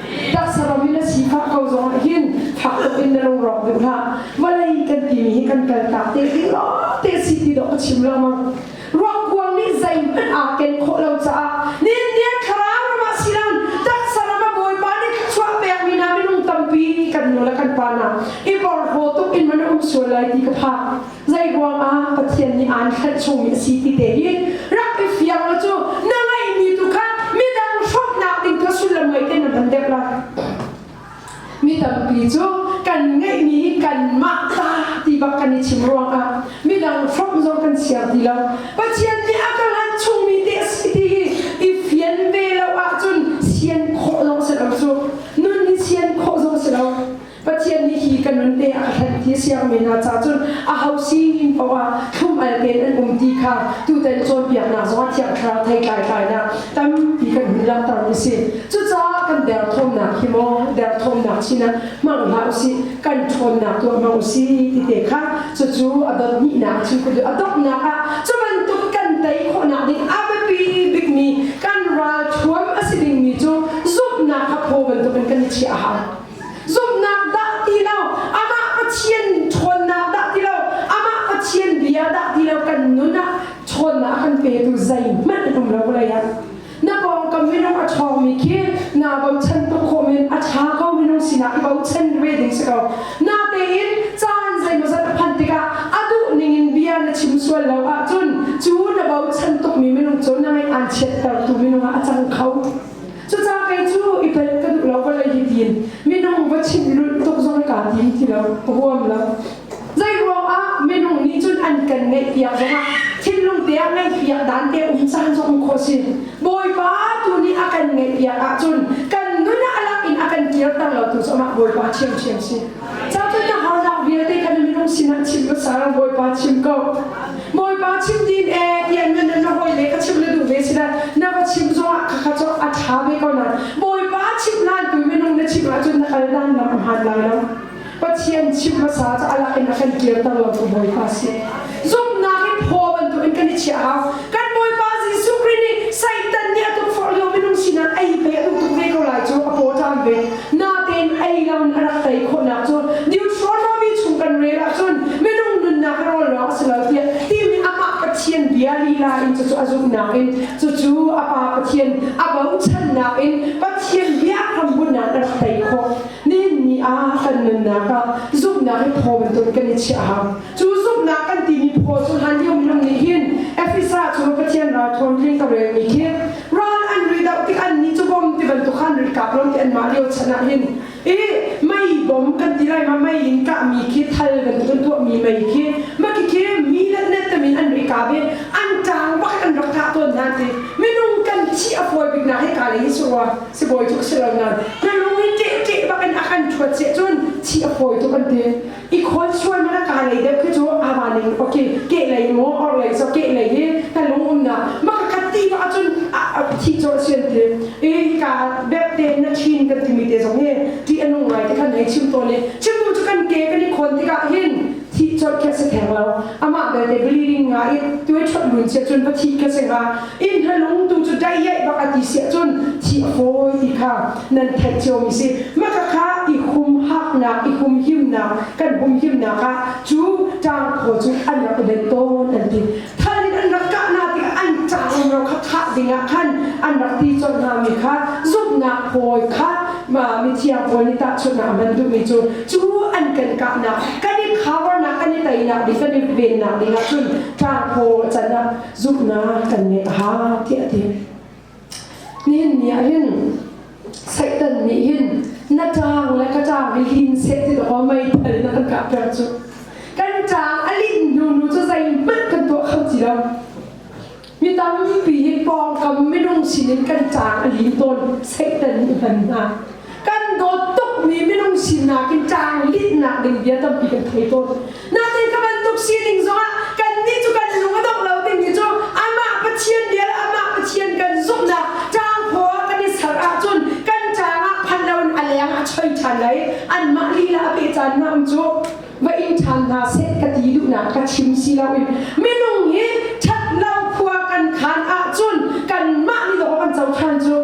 taksa ram in na si fak ko zong ah hin fak tuk in na lung rawk deuh hna vawlei kan timi hi kan kal tak te ti lo te si ti dok ka chim lengmang ruakkuang nih zeihmanh aa ken khawh lo caah nin nian thlarau ramah si lan taksa rama bawipa nih chuah pekmi hna minung tampi kan nu le kan pa hna i porhlaw tuk in man um sual lai ti ka phak Zei ruangah Pathian nih aan hrenh chungmi a si ti te hi rak i fiang u cu na ngeihmi tu kha midang hromhnak ding kha sullam ngei tein na tam deuh lai. Mi tampi cu kan ngeihmi hi kanmah ta ti bak kan i chim ruangah midang hrawmh zong kan siang ti lo. Pathian nih a ka hlan chungmi te a si ti hi i fian ve lo ahcun sian khawh zong a si lo cu. Nun hi sian khawh zong a si lo. Pathian nih hi kan nun te a ka hlenh ti a siang men hna cahcun aho sining paoh ah thlum al tein an um ti kha tutan cawnpiaknak zong ah thiang thlarau thei tlaitlainak tampi kan hun langhter mi si. Cucaah kan derthawmnak hi maw derthawmnak sinah hmang hlah usih, kan ṭhawnnak tuah hmang usih ti te kha cucu a donihnak a chim a donghnak ah cu bantuk kan tei khawhnak ding a biapi bikmi kan ral thuam a si dingmi cu zumhnak kha phaw bantukin kan i chiah a hau. Zumhnak dah ti lo, amah Pathian ṭhawnnak dah ti lo, amah Pathian bia dah ti lo, kan nun ah ṭhawnnak a kan petu zeihmanh a um lo vawlei ah. Na pawngkam minung a ṭhawngmi khi naa bochan tuk khawh men, a ṭha ko minung sinah i bochan ve ding si ko. Natein caan zeimawzat a phanh tikah a duh ningin bia na chim sual lo ahcun cu na bochan tukmi minung cu na ngaih aan chiattertu minung ah a cang kho. Cucaah kei cu i tel ka duh lo vale hi tiin minung va chin lulh tuk zong ka ti ti lo ka huam lo. Zei ruangah minung nih cun an kan ngeih piak zongah thinlung te ah ngeih piak dan te um caan zong khawh si. Bawipa tu nih a kan ngeih piak ahcun kan nun ah a lak in a kan kirter lo tu zongah Bawipa thiamthiam si. Cangka na hawzang vialte kan minung sinah chim ka sa, Bawipa chim ko. Bawipa chim din e, ian na na hoi le ka chim le duh ve sila, na va chim zongah ka kha cok a ṭha ve ko nan. Bawipa chim nan tu minung na chim ahcun na kal nan nam a hman lai lo. Pathian chim hmasa ca alak in a kan kir ter lo cu Bawipa si. zumhnak in Paul bantukin kan i chiah hau. Kan Bawipa Jesuh Khrih nih Satan nih a tukforh lio minung sinah ei pei a duh tuk ve ko lai cu a paw ṭam ve. Natein ei loin a rak tei khawhnak cu neutral trophy chung kan rel ahcun minung nunnak hi rawl lawng a si lo tiah timi amah Pathian bia lila in cucu a zumhnak in cucu a Pa Pathian a bochannak in Pathian bia hrambunh ah a rak tei khawh. Nihin ni ah kan nunnak ah zumhnak hi Paul bantukin kan i chiah hau. Cu zumhnak kan timi phaw cu hlanlio minung nih hin Efesa cu Pathian ralthawn tling a relmi khi ral an ri doh tik annih cu bawm ti bantuk khan ri kap lo ti anmah lio chan ah hin i mei bawm kan ti lai ma mei in kahmi khi thal kan ti kan tuahmi mei khi mah khi mi le net temin an ri kap i an ṭang bak an rak kah tawn nan ti minung kan thi a fawi bik na hika lei si rua sibawi cu si lo nan minung i keh keh bak in a kan ṭhuat seh cun thi a fawi tu kan ti i khual sual mana ka nei deuh khi cu ama ning poki ke lei mo or lei so ke lei hi ka lung um na ma ka kati ma achun thi cho sian te e ka bep te na chin kan timi te zong he ti anung ngai te kan nei chim to le chim tu kan ke kan i khon tika hin thi cho khe se theng lo amah belte bleeding nga i tuai chot lun sia cun va thi ka seng a in ha lung tu cu dai yai bak a ti sia cun thi a fawi ti kha nan theih cio mi si maka kha i khum haknak i hum himnak kan hum himnak ah cu tang kho cu an rak i bet tawn an ti than in an rak kah na tikah an tang um ro kha thah dingah khan an rak ti chon hna mi kha zumhnak phawi kha ma mi thiang pawl ni ta chutna a ban duhmi cu cu an kan kahnak kan i khawarnak kan i teinak ding kan i vennak dingah cun tlangkhaw canah zumhnak kan ngeih a ha tiah ti nihin ni ah hin satan nih hin na tang le ka tang i lin se ti lo mei thal na kan kah per cu kan tang a lin hnu nu cu zeihmanh kan tuah kho ti lo Mi tampi hi pawngkam minung sinin kan caang a li tawn Satan nih hman hna. Kan dawt tukmi minung sinak in caang linhnak ding bia tampi kan thei tawn. Natin ka bantuk sining zongah kannih cu kan lung a dok lo timi cu amah Pathian bia le amah Pathian kan zumhnak caang khua kan i ser ahcun kan caangah phan loin a leng a choi ṭhan lai. Anmah lila a peh caan na um cu. va i ṭhan hna seh ka ti duhnak ka chim si loin minung hi ṭhatlo khua kan khan ahcun kanmah nih law kan co ṭhan cu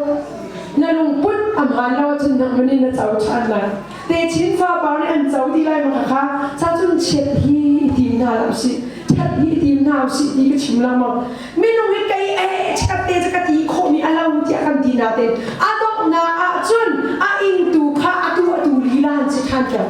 na lungput a hmaan lo ahcun nangmah nih na co ṭhan lai te chin fapa nih an co ti lai maka kha chacun chiat hi i tim hna lo si ṭhat hi i tim hna si ti ka chim lengmang minung hi kei ee ṭhat te ca ka ti khawh ni a lo tiah kan ti natein a donghnak ahcun a ingtu kha a tuahtu lilan si ṭhan ṭhan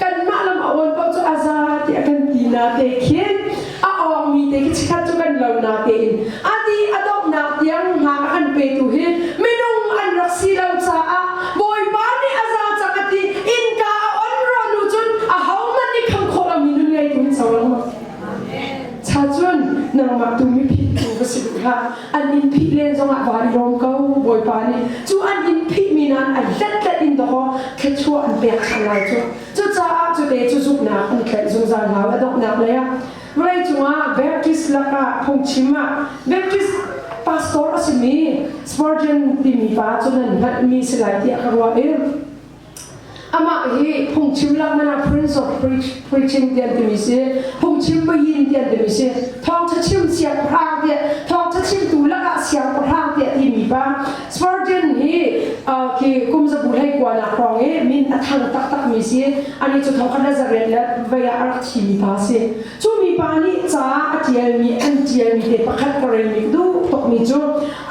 kanmah lam a uan paoh cu a za ti a kan ti na te khin a awngmi te khi chikhat cu kan lo na tein a ti a donghnak tiang hna a kan petu hi minung an rak si lo caah bawipa nih a za cak a ti innka a on rawnu cun a hohmanh nih kham khawh lomi nun ngeitu hin so lo Cha cun nangmah tu miphit tu va si duh hlah an in phih len zongah vaa i lawm ko Bawipa nih cu an in phih mi nan ai hlat hlat in dawh thluachuah an pek than lai cu cucaah cu te cu zumhnak an tlaih zungzal hau a donghnak lei ah vawlei cungah Baptist lakah phungchim ah Baptist pastor a simi Spurgeon timi pa cu nan hngalhmi si lai tiah ka ruah i Amah hi phungchim laknak Prince of Preaching tian timi si, phungchim payin tian timi si, thawngtha chim siangpahrang tiah, thawngtha chimtu lakah siangpahrang tiah timi pa Spurgeon hi ki kumzabu hlei kuana hrawng i min a thang taktakmi si, ani cu thongkhat Nazareth le vei ah a rak thimi pa si. Cu mipa nih ca a ṭialmi an ṭialmi te pakhat ka relmi duh tukmi cu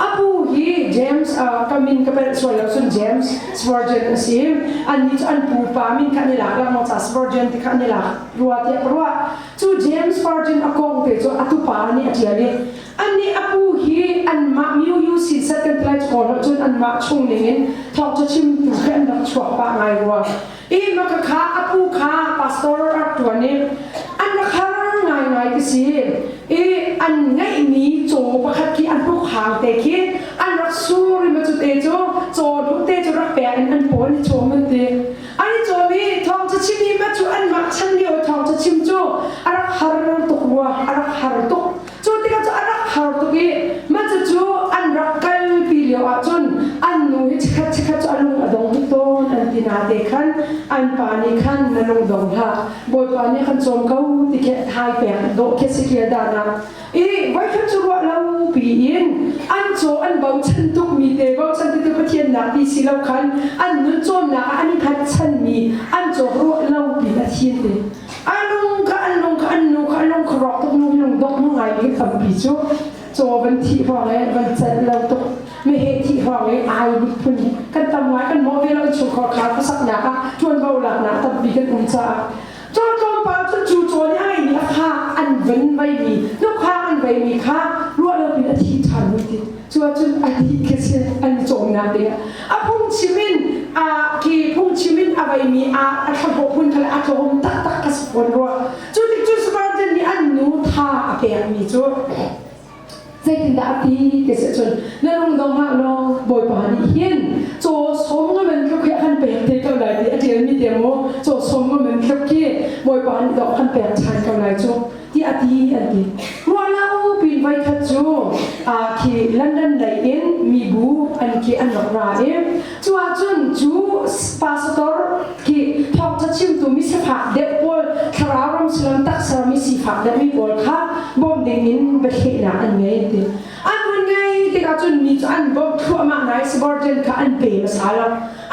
a pu hi James uh, ka min ka belh sual lo cun James Spurgeon a si annih cu an pupa min kha an i lak langmang ca Spurgeon ti kha an i lak rua tiah ka ruah cu James Spurgeon a kong te cu a tupa nih a ṭial i annih a pu hi anmah Miu U Sin Set kan ti lai cu kawl cun anmah chung ning in thawk cu chimtu he an rak chuak pah ngai rua Hi Rakhakha a phu kha pastor a rak ṭuan i an rak har ngaingai ti si i an ngeihmi caw pakhat khi an hnukhang te khi an rak sur i macute cu caw hnute cu rak pek in an pawl i cawm an ti an i cawm i thawng cachim i ma cu anmah chan lio thawng cachim cu a rak har tuk rua a rak har tuk Cu tikah cu a rak har tuk i mah cucu an rak kalpi lio ahcun an nu hi chikkhat chikkhat cu a lung a dong hnik tawn an ti nate khan an pa nih khan na lung dong hlah Bawipa nih khan cawm ko ti khi hai pek dawh khi si kia danah i voikhat cu ruah lo piin an caw an bochan tukmi te bochan titu Pathian nak ti si lo khan an nun cawmnak ah an i hngatchanmi an cawk ruah lo pi a thin te A lung kha an lung kha an nu kha a lung kha rawk tuk lung lung dok nu ngai mi tampi cu caw van thih hwang e van cat lo tuk me he thih hwang e ai miphun kan tam ngai kan mo ve lo chu khor khar ka sak nya ka tuan bo lak na tampi kan um caah caw tlawm pa cu chu caw nya ngai ni la kha an van mai mi nu kha an vai mi kha ruah lo pin a thi than mi ti Cuacun a dih khese an cawmnak te a phungchim in aa ke phungchim in a veimi ah a thlahlawh hmun kha le a tlawm taktak a si fawn rua. Cu tikcun Spartan nih an nu tha a pekmi cu zeitindah a ti ka si cun na lung zong hlah law Bawipa nih hin caw sawm ngamen tluk hi a kan pek te ko lai ti a ṭialmi te maw caw sawm ngamen tluk hi Bawipa nih doh kan pek ṭhan ko lai cu tiah ti kan ti. Ruah lo pi voikhat cu khi London lei in mibu an khi an rak ra i cu ahcun cu pastor khi thawngtha chimtu mi sifak deuh pawl thlarau ram sullam taksermi sifak deuhmi pawl kha bawmh ding in biahlehnak an ngei ti. An hun ngei tikah cun mi cu an bawmh thluahmah nai subordinate kha an pe hmasa lo.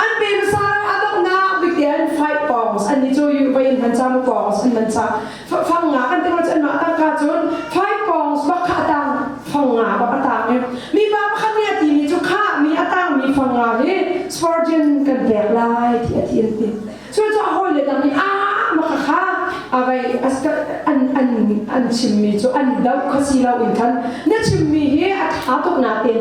An pe hmasa lo a donghnak bikte an fight pawng an ni cu European man cang pawng an man cang Thawng nga kan tilo cun mah tak cun thoi pawng spak kha a tang thong nga bak a tang i mi pa pakhat nih a ti mi cu kha mi a tang mi thong nga hi Spurgeon kan pek lai ti a ti an ti so cu a hawi le dang nih a maka kha avei an an an chim mi cu an doh kho si lo in khan na chim mi hi a tha tuk na tin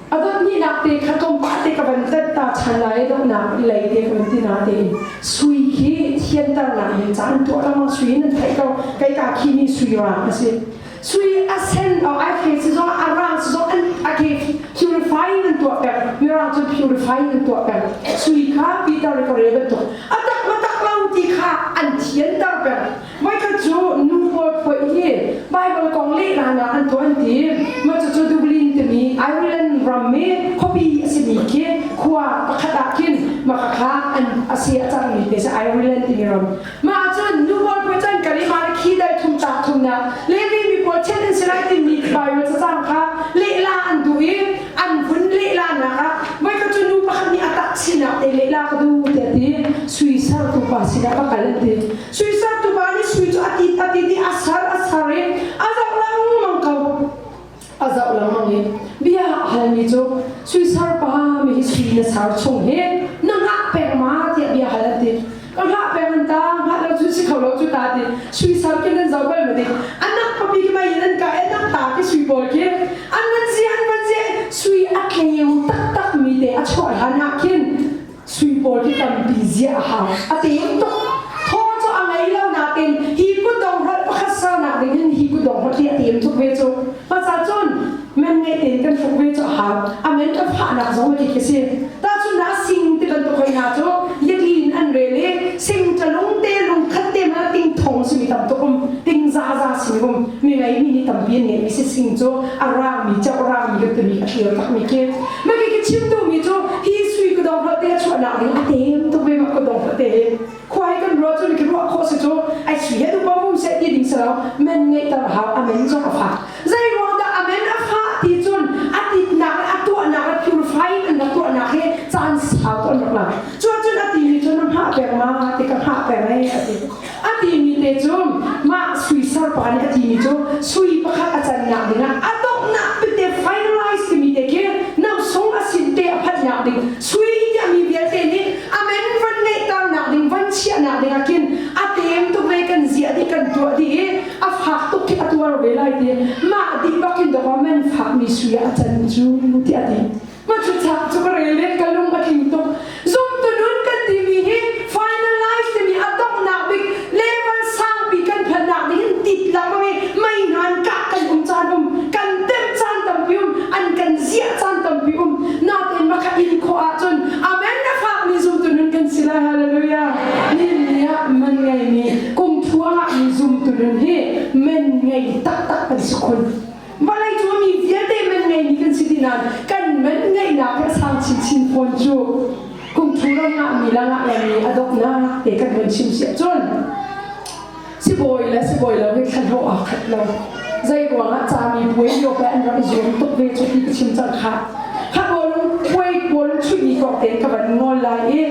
A pahnihnak te kha tlawmpal te ka van tat ta than lai i dohnak i lei te ka van ti na tein sui hi thianternak in caan tuah lawng sui nan theih ko kei ka khi ni sui ra a si sui a sen ai the si zo a rang si zo an a ke purifying nan tuah per mirang cu purifying nan tuah per sui kha Peter re kore bantuk a tak ma tak lo ti kha an thianter per Mah cu nu pawl poih hi Baibal kong lehnak an tuan ti. Mah cucu Dublin timi Ireland rammi khuapi a simi khi khua pakhat ah khin makhakha an a si a cangmi te si Ireland timi ram. Mah ahcun nu pawl poih can kal i mah khi dai thum tlak thumnak Levi mi pawl chiat an si lai timi Baibal cacang kha lehla an duh i an vun lehlanak ah mah cu nu pakhat nih a tah sinak te lehla ka duh tiah ti sui sertu pa sinah va kal an ti. Suisaktu pa nih sui cu a tit a tit i a sar a sar i a zoh lengmang ko a zoh lengmang i bia a halmi cu suisar pa mi hi sui na sar chung hi na ngah peng ma tiah bia hal an ti ka ngah peng an ta ngah lo cu si kho lo cu ta ti suisar khi nan zoh bal ma ti anak papi ki mai nan ka enak ta ki sui pawl khi an van zi an van zi sui a tleu taktak mi te a chuah hlan ah khin Sui pawl hi tampi ziah a har, a tem tuk. Thaw cu a ngei lo nain hi kutdong rat pakhat sernak ding in hi kutdong rat hi a tem tuk ve cu. Hmasa cun man ngeih tein kan hruk ve cu a har. A men kan fahnak zong hi ka si. Tahcun na sing ti bantuk hoi hna cu yatli in an rel i sing ṭalung te lung khat te ma ting thong simi tam tuk um, ting za za simi um, mi ngeimi ni tampi an ngeimi si sing cu a rangmi, cawk rangmi kan timi a thlir takmi khi Mami ka chim duhmi cu hi sui ka dong hlawte a chuahnak in a tem tuk ve mak ka dong hlawte khua i kan ruah cun ka ruah khawh si cu ai sui he tu pom se ti ding salo men ngeih ter hau amen cu ka fak zei ruang dah amen a fah ti cun a titnak le a tuahnak le purified an rak tuahnak hi caan sau an rak lang cu cun a ti ni cun na hngah peng ma ti ka hngah peng ai a ti A timi te cun mah sui serpa nih a timi cu sui pakhat a cannak dingah a donghnak tete finalize timi te khi nausung a sin te a phanhnak ding sui tiah mi vialte nih amendment ngeihternak ding van chiahnak dingah khin a tem tuk lei kan ziah dih kan tuah dih i a fak tuk khi a tuar ve lai ti mah dih bak in the government fakmi sui a can cu ti a ti Pathluthlak cu ka rel le ka lung a tling tuk. Zumtunun kan timi hi final life timi a donghnak bik level sangpi kan phannak nih hin titlak lo i mei hnan kah kan um caan um kan tem caan tampi um an kan ziah caan tampi um natein maka in khawh ahcun amen na fakmi zumtunun kan si lai hallelujah ninni ah man ngei ni kumthuang ah mi zumtunun hi men ngei taktak kan si khun Vawlei cu mi vialte man ngeimi kan si ti nain kan man ngeihnak le sang chinchin fawn cu kum thu ram ngah mi le ngah lam mi a donghnak te kan van chim si ahcun sibawi le sibawi lo hi thlan ho aa khat lo zei ruangah cami puai lio pe an rak i zuam tuk ve cu ti ka chim cang kha kha kawl puai kawl chuih ni kok ten ka van ngol lai i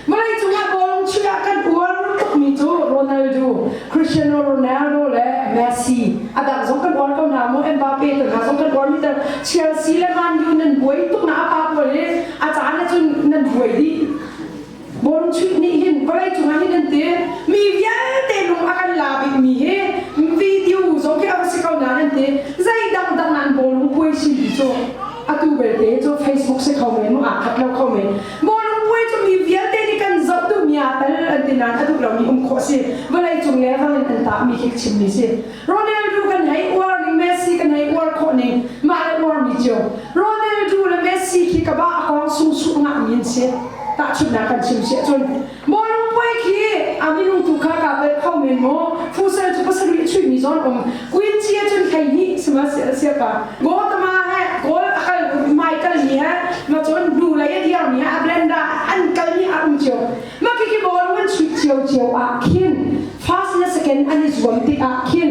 Vawleicung ah bawlung chuih ah kan uar tukmi cu Ronaldo, Cristiano Ronaldo le Messi a dang zong kan uar ko hna maw Mbappe te hna zong kan uar miter Chelsea le Man U nan buai tuk na a pa pawl hi a caan ah cun nan buai dih bawlung chuih nih hin vawleicung ah hin an ti mi vialte lung a kan la bikmi hi video zong khi a va si ko na an ti zei dangdang nan bawlung puai sin ti cu atu belte cu Facebook si kho men mu aa khat lo kho men Mawlungpuai cu mi vialte nih kan zoh tu mi aa tal an ti nain a duh lomi um khawh a si. Vawlei cung le ram in an tahmi khi chimmi si. Ronaldo kan hei uar ning, Messi kan hei uar khawh ning, mah le uarmi cio. Ronaldo le Messi khi ka bah a kong sungsuh ngahmi an si. Tahchunhnak kan chim si ahcun, Bawlungpuai khi a minung tu kha ka pel kho men maw? Fusen cu pasarih chuihmi zawn um Quincy cun thei hnih sihmanhsehlaw ka Gotama he goal a kal Michael nih he ma cun hnu lei a dirmi a blender an kalmi a um cio mah khi ball an chuih cio cio ah khin first le second an i zuam tik ah khin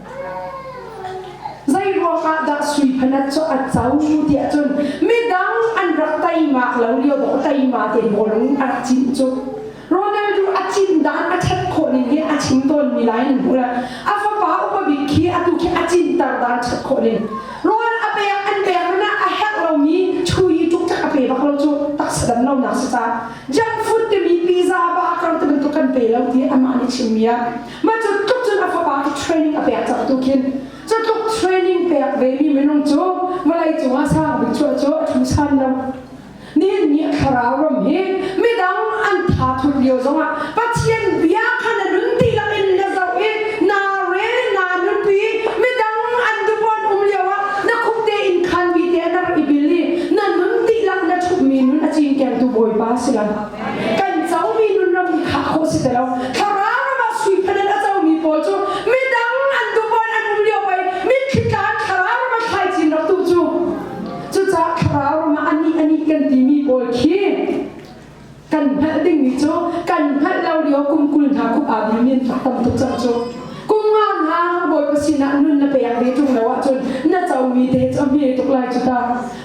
Zeiruangah dah sui phanat cu a co tiah cun midang an rak teima lo lio dawh teima te pawl an rak cin cu Ronaldo a cin dan a that khawh ning hi a chim tawnmi lai nan hmu a fapa upa bik khi atu khi a cinter dan that khawh ning rawl a pek an pek hmanh ah a herh lomi chui tuk tak a pe bak lo cu taksa dan lo nak si ta junk food timi pizza baka te bantuk kan pe lo ti amah nih chimmi a Mah cu tluk cun a fapa hi training a pek cang tu khin cu tluk training pek ve mi minung cu vawlei cungah sang bik cu cu a ṭhumsan lam nihin ni thlarau ram hi midang an tha thut lio zongah Pathian bia kha na nun dihlak in na zoh i naa rel naa nunpi midang an dupawn um lio ah na khuk tein khan bi te a rak i bil i na nun dihlak na ṭhummi nun a cingkengtu Bawipa si lai kan comi nunram hi khah khawh si te lo thlarau ram ah sui phen in a comi pawl cu midang an duhpon an um lio pei mitthli tlan thlarau ram a thlai chin rak tu cu cucaah thlarau ram ah ani ani kan timi pawl khi kan hngalh dingmi cu kan hngalh lo lio kum kul hna khup aa bil min fak tam tuk cang cu kum nga hna bawipa sinah nun na pek ve tung lo ahcun na comi te cu a hme tuk lai cu ta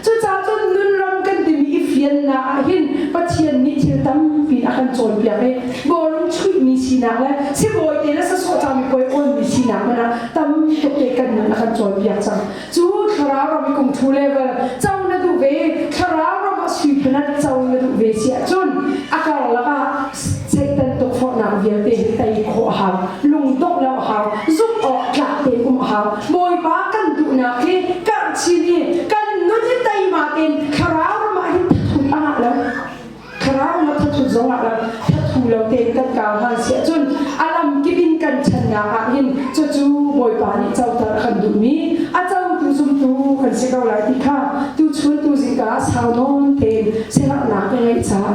Cucacun nunram kan timi i fiannak ahhin Pathian nih thil tampi a kan cawnpiak i bawlung chuihmi sinak le sibawite le sasawh cangmi puai awnmi sinak hmanh ah tam tuk kan nun a kan cawnpiak cang. Cu thlarau ram kung thu level co na duh ve, thlarau ram ah suiphun ah co na duh ve si ahcun a karlak ah Satan tukforhnak vialte hi tei khawh a hau. Lungdongh lo a hau. Zumh awk tlak te um a hau. Bawipa kan duhnak hi karh chin i kan nun hi teima tein thlarau ram ah hin thathut a ngah lo. Thlarau ram ah thathut zong ah lo. Thathu lo tein kan kau han si ahcun a lam kip in kan channak ah hin cucu Bawipa nih coter a kan duhmi a cotu zumtu kan si ko lai ti kha tu chuntu zingka sau nawn tein sianghnak ka ngeih caah